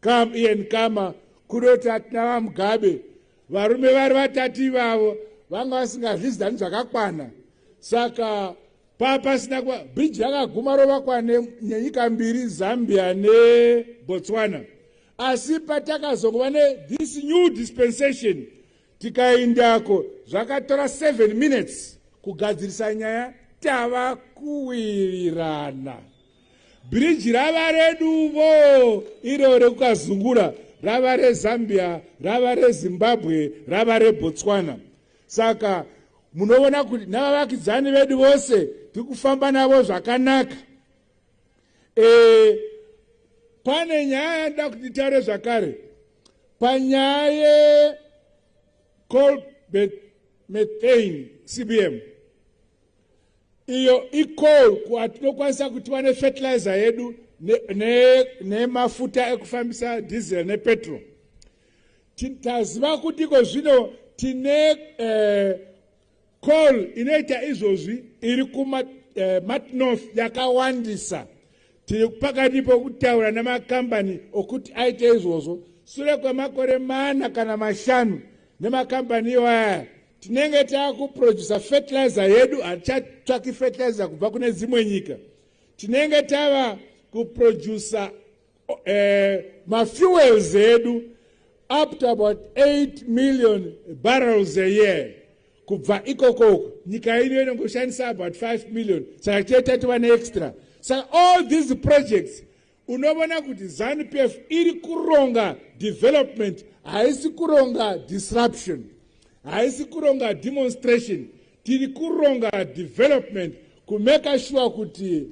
kam ian kama kudoti atina vamugabe varume vari vatatu ivavo vanga vasingazvizidzani zvakakwana saka paa pasina kuva bridge rakaguma rovakwa nenyika mbiri zambia nebotswana asi patakazongova nethis new dispensation tikaindako zvakatora seven minutes kugadzirisa nyaya tava kuwirirana bhiriji rava reduvo iro rekukazungura rava rezambia rava rezimbabwe rava rebotswana saka munoona kuti navavakidzani vedu vose tiri kufamba navo zvakanaka e, pane nyaya yandida kuti nditaure zvakare panyaya yecolbert methane cbm iyo icall kwatinokwanisa kuti vane fertilizer yedu nemafuta ne, ne ekufambisa diesel nepetrol taziva kuti iko zvino tine eh, call inoita izvozvi iri kuma eh, matnorth yakawandisa tiri pakati pokutaura nemakambani okuti aite izvozvo sure kwemakore mana kana mashanu nemakambani iwaya tinenge takuproducer fertilizer yedu hatichatsvaki fertilizer kubva kune dzimwe nyika tinenge tava kuproducer eh, mafuels edu up to about 8 million barrels a year kubva ikokoko nyika ino inongoshandisa about 5 million saka tiye tatova neextra saka all these projects unovona kuti zanupf iri kuronga development haisi kuronga disruption haisi kuronga demonstration tiri kuronga development kumeka shuwa kuti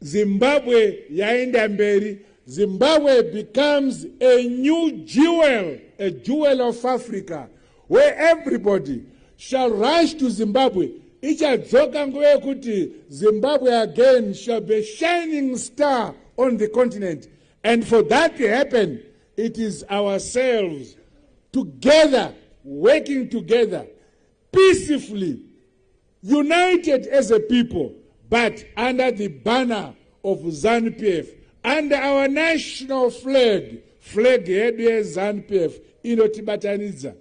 zimbabwe yaenda mberi zimbabwe becomes a new jewel a jewel of africa where everybody shall rush to zimbabwe ichadzoka nguva yekuti zimbabwe again shall be shining star on the continent and for that to happen it is ourselves together working together peacefully United as a people but under the banner of ZANPF under our national flag flag yedu yeZANPF inotibatanidza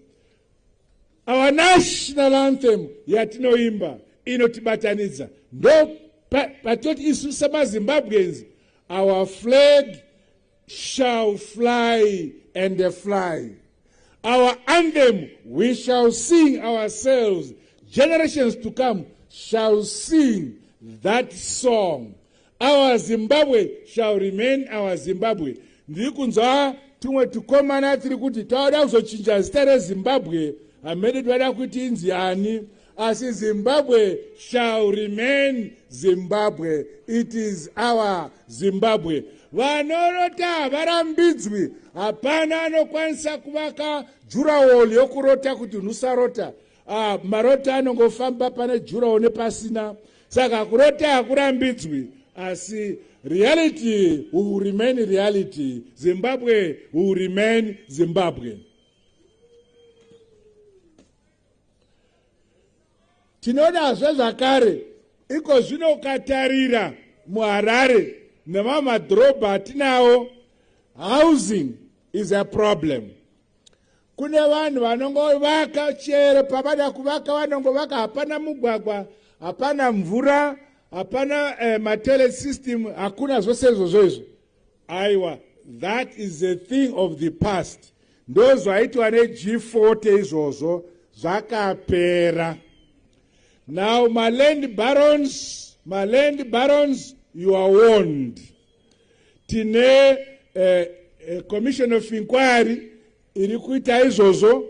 our national anthem yatinoimba inotibatanidza ndo patoti isu semazimbabweans our flag shall fly and fly our anthem we shall sing ourselves generations to come shall sing that song our zimbabwe shall remain our zimbabwe ndiri kunzwa tumwe tukomana tiri kuti tawada kuzochinja zita rezimbabwe hamene tivada kuti inzi ani asi zimbabwe shall remain zimbabwe it is our zimbabwe vanorota havarambidzwi hapana anokwanisa kuvaka jurawall yokurota kuti nusarota ah, marota anongofamba pane jurawall nepasina saka kurota hakurambidzwi asi reality will remain reality zimbabwe will remain zimbabwe tinodazve zvakare iko zvino ukatarira muharare nemamwe madhorobha atinawo housing is a problem kune vanhu vanongovaka chero pavada kuvaka vanongovaka hapana mugwagwa hapana mvura hapana eh, matele system hakuna zvose izvozvo izvo aiwa that is a thing of the past ndozvaitwa neg40 izvozvo zvakapera now maland barons maland barons you are warned tine uh, uh, commission of inquiry iri kuita izvozvo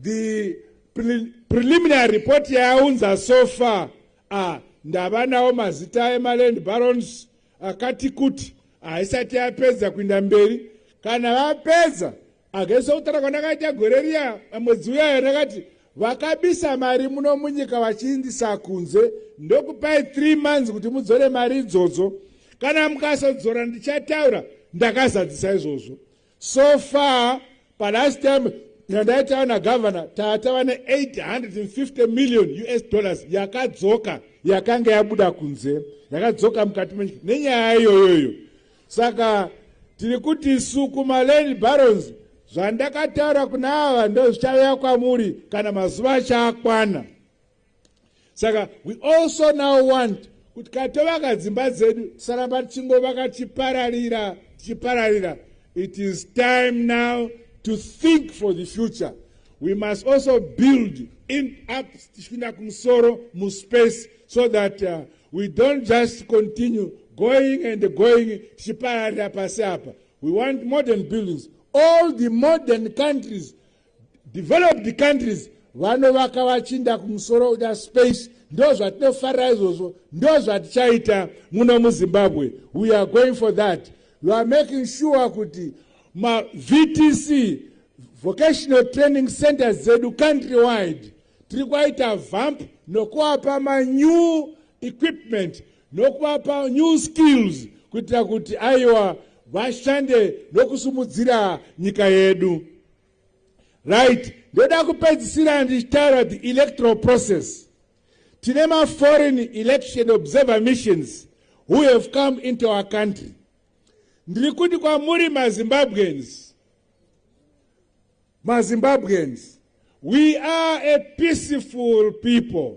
the pre preliminary report yaunza so far ah, ndava nawo mazita emaland barons akati kuti haisati yapedza kuinda mberi kana vapedza akaisa kutaura kwandakaita gore riya mwedzi uyaya ndakati vakabisa mari muno munyika vachiindisa kunze ndokupai three months kuti mudzore mari idzodzo kana mukasodzora ndichataura ndakazadzisa izvozvo So far palast time yandaitawa nagavana tatava ne850 million us dollars yakadzoka yakanga yabuda kunze yakadzoka mukati menyika nenyaya iyoyoyo saka tiri kuti isu kumaland barons zvandakataura kuna ava ndozvichauya kwamuri kana mazuva achaakwana saka we also now want kuti ka tovaka dzimba dzedu tisaramba tichingovaka tichipararira tichipararira it is time now to think for the future we must also build in up tichipinda kumusoro muspace so that uh, we don't just continue going and going tichipararira pasi apa we want modern buildings all the modern countries developed countries vanovaka vachinda kumusoro uda space ndo zvatinofarira izvozvo ndo zvatichaita muno muzimbabwe we are going for that we are making sure kuti mavtc vocational training centers dzedu country wide tiri kwaita vamp nokuapa manew equipment nokuvapa new skills kuitira kuti aiwa vashande nokusimudzira nyika yedu right ndoda kupedzisira ndichitaura the electoral process tine maforeign election observer missions who have come into our country ndiri kuti kwamuri mazimbabweans mazimbabweans we are a peaceful people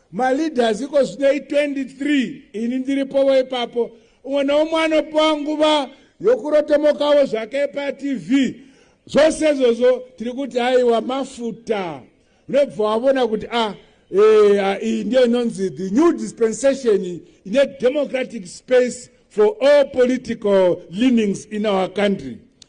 maleaders iko zvinei 23 ini ndiripovo ipapo umwe neumwe anopiwa nguva yokurotomokavo zvake patv zvose izvozvo tiri kuti aiwa mafuta unobva wavona kuti a ah, eh, ah, iyi ndiyo inonzi the new dispensation ine democratic space for all political leanings in our country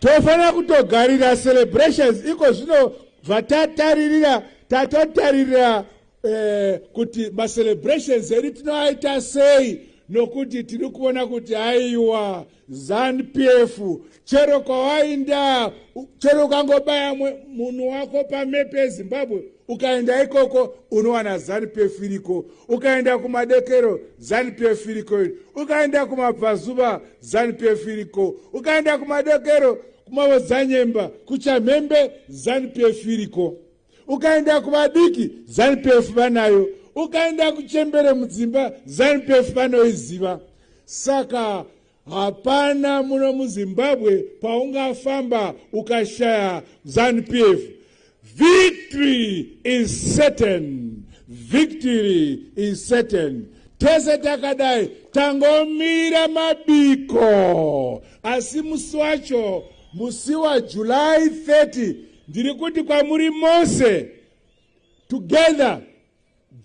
tofanira kutogarira celebrations iko zvino zvatataririra tatotaririra eh, kuti macelebrations edu tinoaita sei nokuti tiri kuona kuti aiwa zanupf chero kwawainda chero ukangobaya munhu wako pamepe ezimbabwe ukaenda ikoko unowana zanupf iriko ukaenda kumadekero zanupf iriko iri ukaenda kumabvazuva zanupf iriko ukaenda kumadekero kumavodzanyemba kuchamhembe zanupf iriko ukaenda kuvadiki zanupf vanayo ukaenda kuchembere mudzimba zanupf vanoiziva saka Hapana muno muZimbabwe paungafamba ukashaya ZanuPF. Victory is certain. Victory is certain. Tese takadai tangomira mabiko asi musi wacho musi waJuly 30 ndiri kuti kwamuri mose together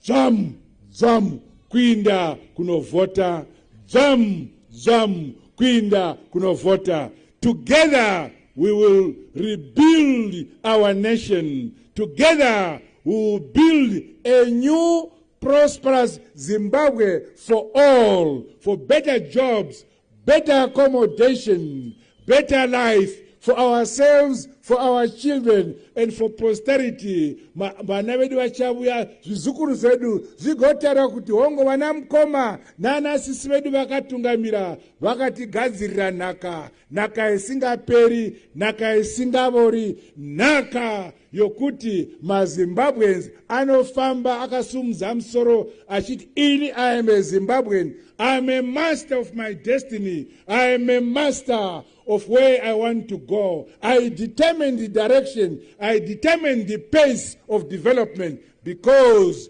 Dzvamu dzvamu kuinda kunovhota. Dzvamu dzvamu kuinda kunovhota. Together we will rebuild our nation. Together we will build a new prosperous Zimbabwe for all, for better jobs, better accommodation better life for ourselves for our children and for posterity vana vedu vachavuya zvizukuru zvedu zvigotaura kuti hongo vana mukoma nana sisi vedu vakatungamira vakatigadzirira nhaka nhaka isingaperi nhaka isingavori nhaka yokuti mazimbabweans anofamba akasumudza musoro achiti ini i am a zimbabwean i am a master of my destiny i am a master of where i want to go i determine the direction i determine the pace of development because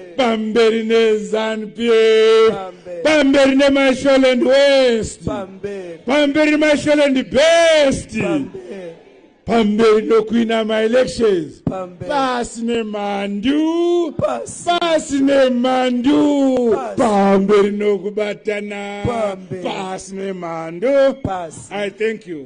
pamberi nezanp pamberi nemasholand west pamberi nemasholand best pamberi nokuina maelections pasi nemhandu pasi nemhandu pamberi nokubatana pasi nemhandu i thank you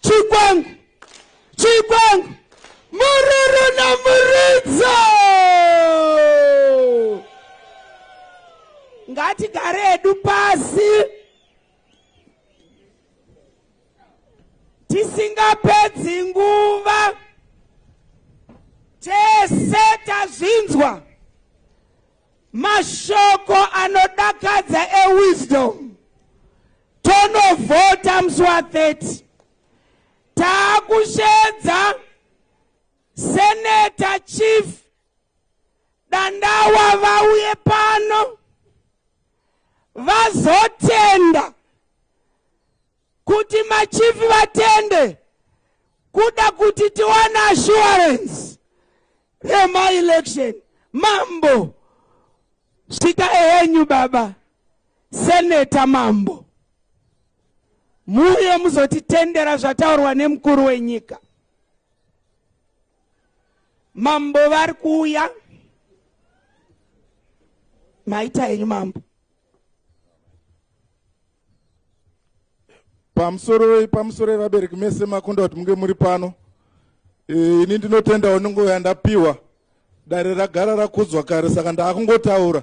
Chikwangu, Chikwangu, Mururu naMuridzo. Ngatigare hedu pasi tisingapedzi nguva, tese tazvinzwa mashoko anodakadza ewisdom tonovhota musi wa 30 taakushedza seneta chief dandawa vauye pano vazotenda kuti machifi vatende kuda kuti tiwane assurance remaelection mambo svita ehenyu baba seneta mambo muuye muzotitendera zvataurwa nemukuru wenyika mambo vari kuuya maita henyu mambo pamusoroi pamusoroi vabereki mese makunda kuti munge muri pano e, ini ndinotendawo nungo yandapiwa dare ragara rakudzwa kare saka ndaakungotaura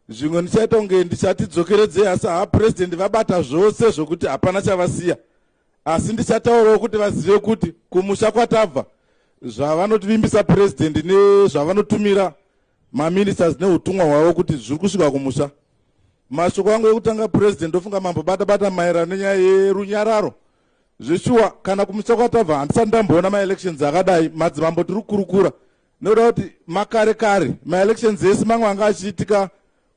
zvimwe ndichaita kunge ndichatidzokeredzei asi haa purezidendi vabata zvose zvokuti hapana chavasiya asi ndichataurawo kuti vazive kuti kumusha kwatabva zvavanotivimbisa purezidendi nezvavanotumira maministers neutumwa hwavo kuti zviri kusvika kumusha mashoko angu ekutanga president ndofunga mambo bata bata maererano nenyaya yerunyararo zveshuwa kana kumusha kwatabva handisati ndamboona maelections akadai madzimambo tiri kukurukura nekuda kuti makare kare maelections ese mamwe anga achiitika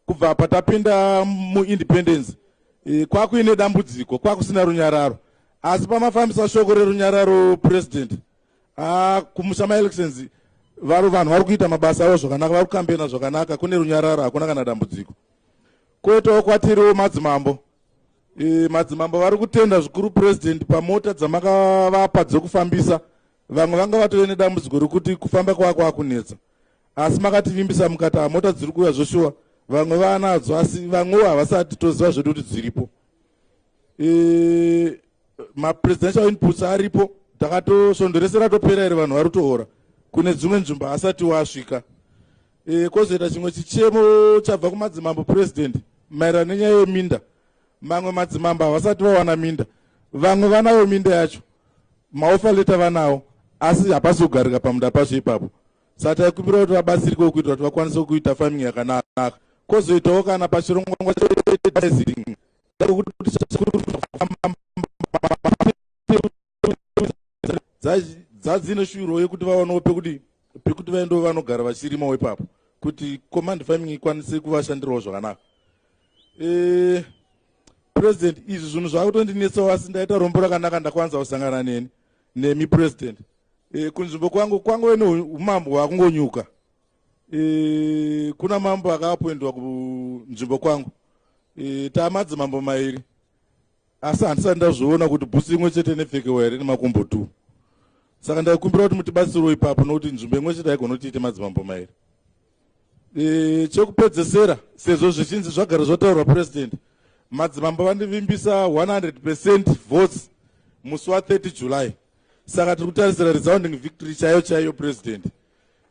kubva patapinda muindependence e, kwakuine dambudziko kwakusina runyararo asi pamafambisa shoko rerunyararo president Ah, kumusa maelections vari vanhu vari kuita mabasa avo zvakanaka vari kukambena zvakanaka kune runyararo hakuna kana dambudziko koitawo kwatiriwo madzimambo e, madzimambo vari kutenda zvikuru purezidendi pamota dzamakavapa dzekufambisa vamwe vanga vatove nedambudziko rekuti kufamba kwava kwakunetsa asi makativimbisa mukati hamota dziri kuuya zvoshuwa vamwe vanadzo asi vamwewo havasati toziva zvedu kuti dziripo e, mapresidential inputs aripo takatosvondo rese ratopera here vanhu vari kutoora kune dzimwe nzvimbo haasati wasvika e, kwozoita chimwe chichemo chabva kumadzimambo president maererano nenyaya yeminda mamwe madzimambo havasati vawana minda vamwe vanayo minda yacho maofa leta vanawo asi hapasi kugarika pamunda pacho ipapo saka taikumbira kuti vabatsirikewo kuitira kuti vakwanise kuita farming yakanaka kwozoitawo kana pachirongwa dzadzine shuro yekuti vawanewo pekuti pekuti vaendewo vanogara vachirima wepapo kuti command farming ikwanise kuvashandirawo zvakanaka eh, president izvi zvinhu zvakutondinetsawo asi ndaita rombo rakanaka ndakwanisa kusangana neni nemi president eh, kunzvimbo kwangu kwangove neumambo hwakungonyuka e, kuna mambo akaapwendwa kunzvimbo kwangu e, taamadzimambo mairi asi handisati ndazviona kuti bhusi imwe chete nepfekewa here nemakumbo two saka ndaikumbira kuti mutibatsirwo ipapo nokuti nzvimbo imwe chete haigona kuti ite madzimambo mairi e, chekupedzesera sezvo zvichinzi zvagara zvotaurwa president madzimambo vandivimbisa 100 percent votes musi wa 30 july saka tiri kutarisira resounding victory chaiyo chaiyo president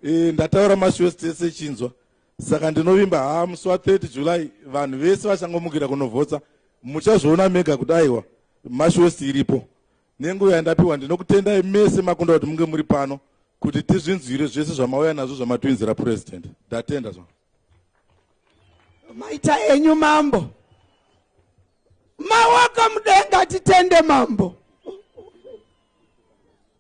e, ndataura mashows tese chinzwa saka ndinovimba haa musi wa 30 july vanhu vese vachangomukira kunovhotsa muchazviona mega kuti aiwa mashows iripo nenguva yandapiwa ndinokutendai mese makunda kuti munge muri pano kuti tizvinzwire zvese zvamauya nazvo zvamatwinzira president ndatenda zva maita enyu mambo mawaka mudenga titende mambo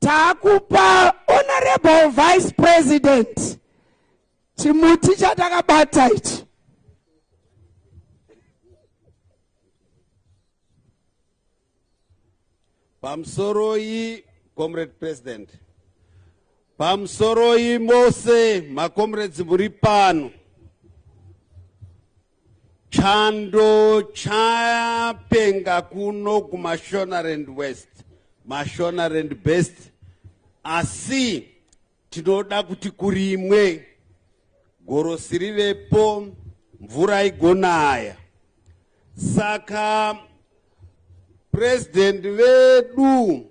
takupa honorable vice president chimuti chatakabata ichi pamusoroi comrade president pamusoroi mose macomrades muri pano Chando chapenga kuno kuMashonaland West, Mashonaland Best, asi tinoda kuti kurimwe gorosi rivepo, mvura igonaya. Saka president vedu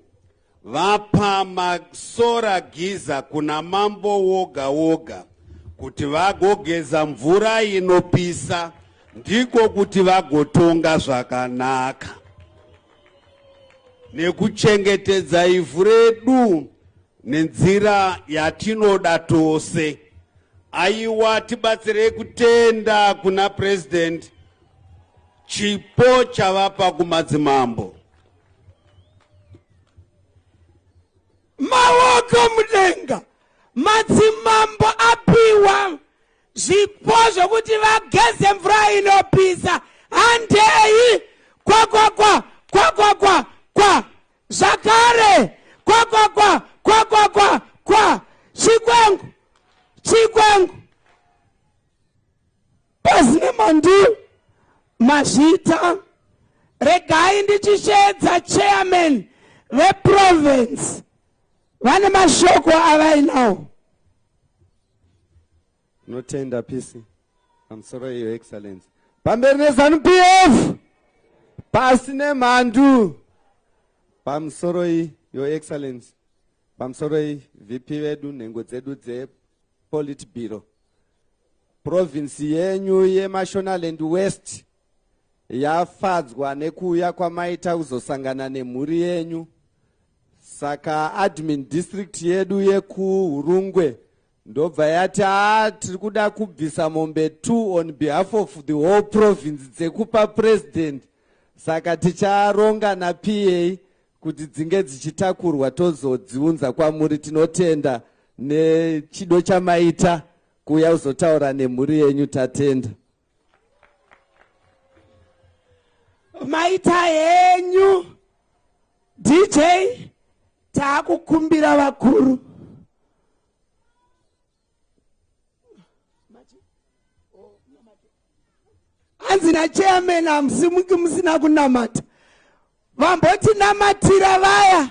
Vapa masora giza kuna mambo woga woga kuti vagogeza mvura inopisa ndiko kuti vagotonga zvakanaka nekuchengetedza ivhu redu nenzira yatinoda tose aiwa tibatsirei kutenda kuna president chipo chavapa kumadzimambo maoko mudenga madzimambo apiwa zvipo zvokuti vageze mvura inopisa handei kwakwakwa kwakwakwa kwa zvakare kwakwakwa kwakwakwa kwa chikwengu chikwengu Pasi nemandu mazvita regai ndichisheedza chairman veprovince vane mashoko avainawo notenda pisi pamusoro iyo excellence pamberi nezanu p f pasi nemhandu pamusoroi your excellence pamusoroi vp vedu nhengo dzedu dzepolitburo Province yenyu yeMashonaland West yafadzwa nekuuya kwamaita kuzosangana nemhuri yenyu saka admin district yedu yekuhurungwe ndobva yati haa tiri kuda kubvisa mombe two on behalf of the whole province dzekupa president saka ticharonga napa kuti dzinge dzichitakurwa tozodziunza kwamuri tinotenda nechido chamaita kuuya kuzotaura nemhuri yenyu tatenda maita henyu dj taakukumbira vakuru hanzi nachairman hamusimuki musina kunamata vambotinamatira vaya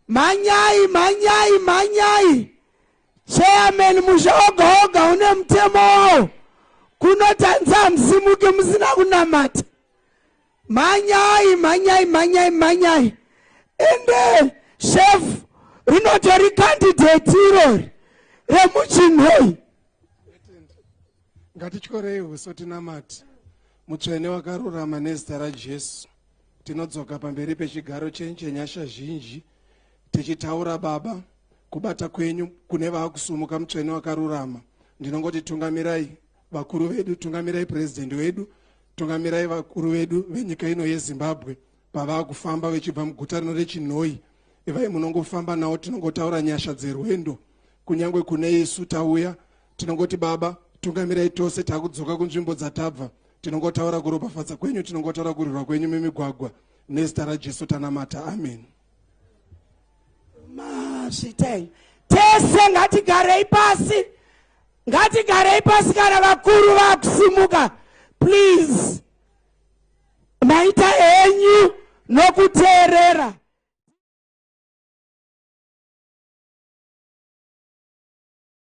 mhanyai mhanyai mhanyai chairman musha oga oga une mutemo wawo kunotanza hamusimuki musina kunamata mhanyai mhanyai mhanyai mhanyai ende chef rinotori kandidheti irori remuchinhoi Ngatityorei huso tinamati mutsvene wakarurama nezita raJesu. Tinodzoka pamberi pechigaro chenyu chenyasha zhinji tichitaura Baba kubata kwenyu kune vakusumuka mutsvene wakarurama. Ndinongoti tungamirai vakuru vedu, tungamirai president wedu, tungamirai vakuru vedu venyika ino yeZimbabwe pavakufamba vechibva muguta rino rechinhoyi. Ivai munongofamba nawo tinongotaura nyasha dzerwendo kunyangwe kune isu tauya tinongoti baba tungamirai tose takudzoka kunzvimbo dzatabva tinongotaura kuropafadza kwenyu tinongotaura kurwirwa kwenyu mimigwagwa nezita rajesu tanamata amen mazvitai tese ngatigarei pasi ngatigarei pasi kana vakuru vakusimuka please maita henyu nokuteerera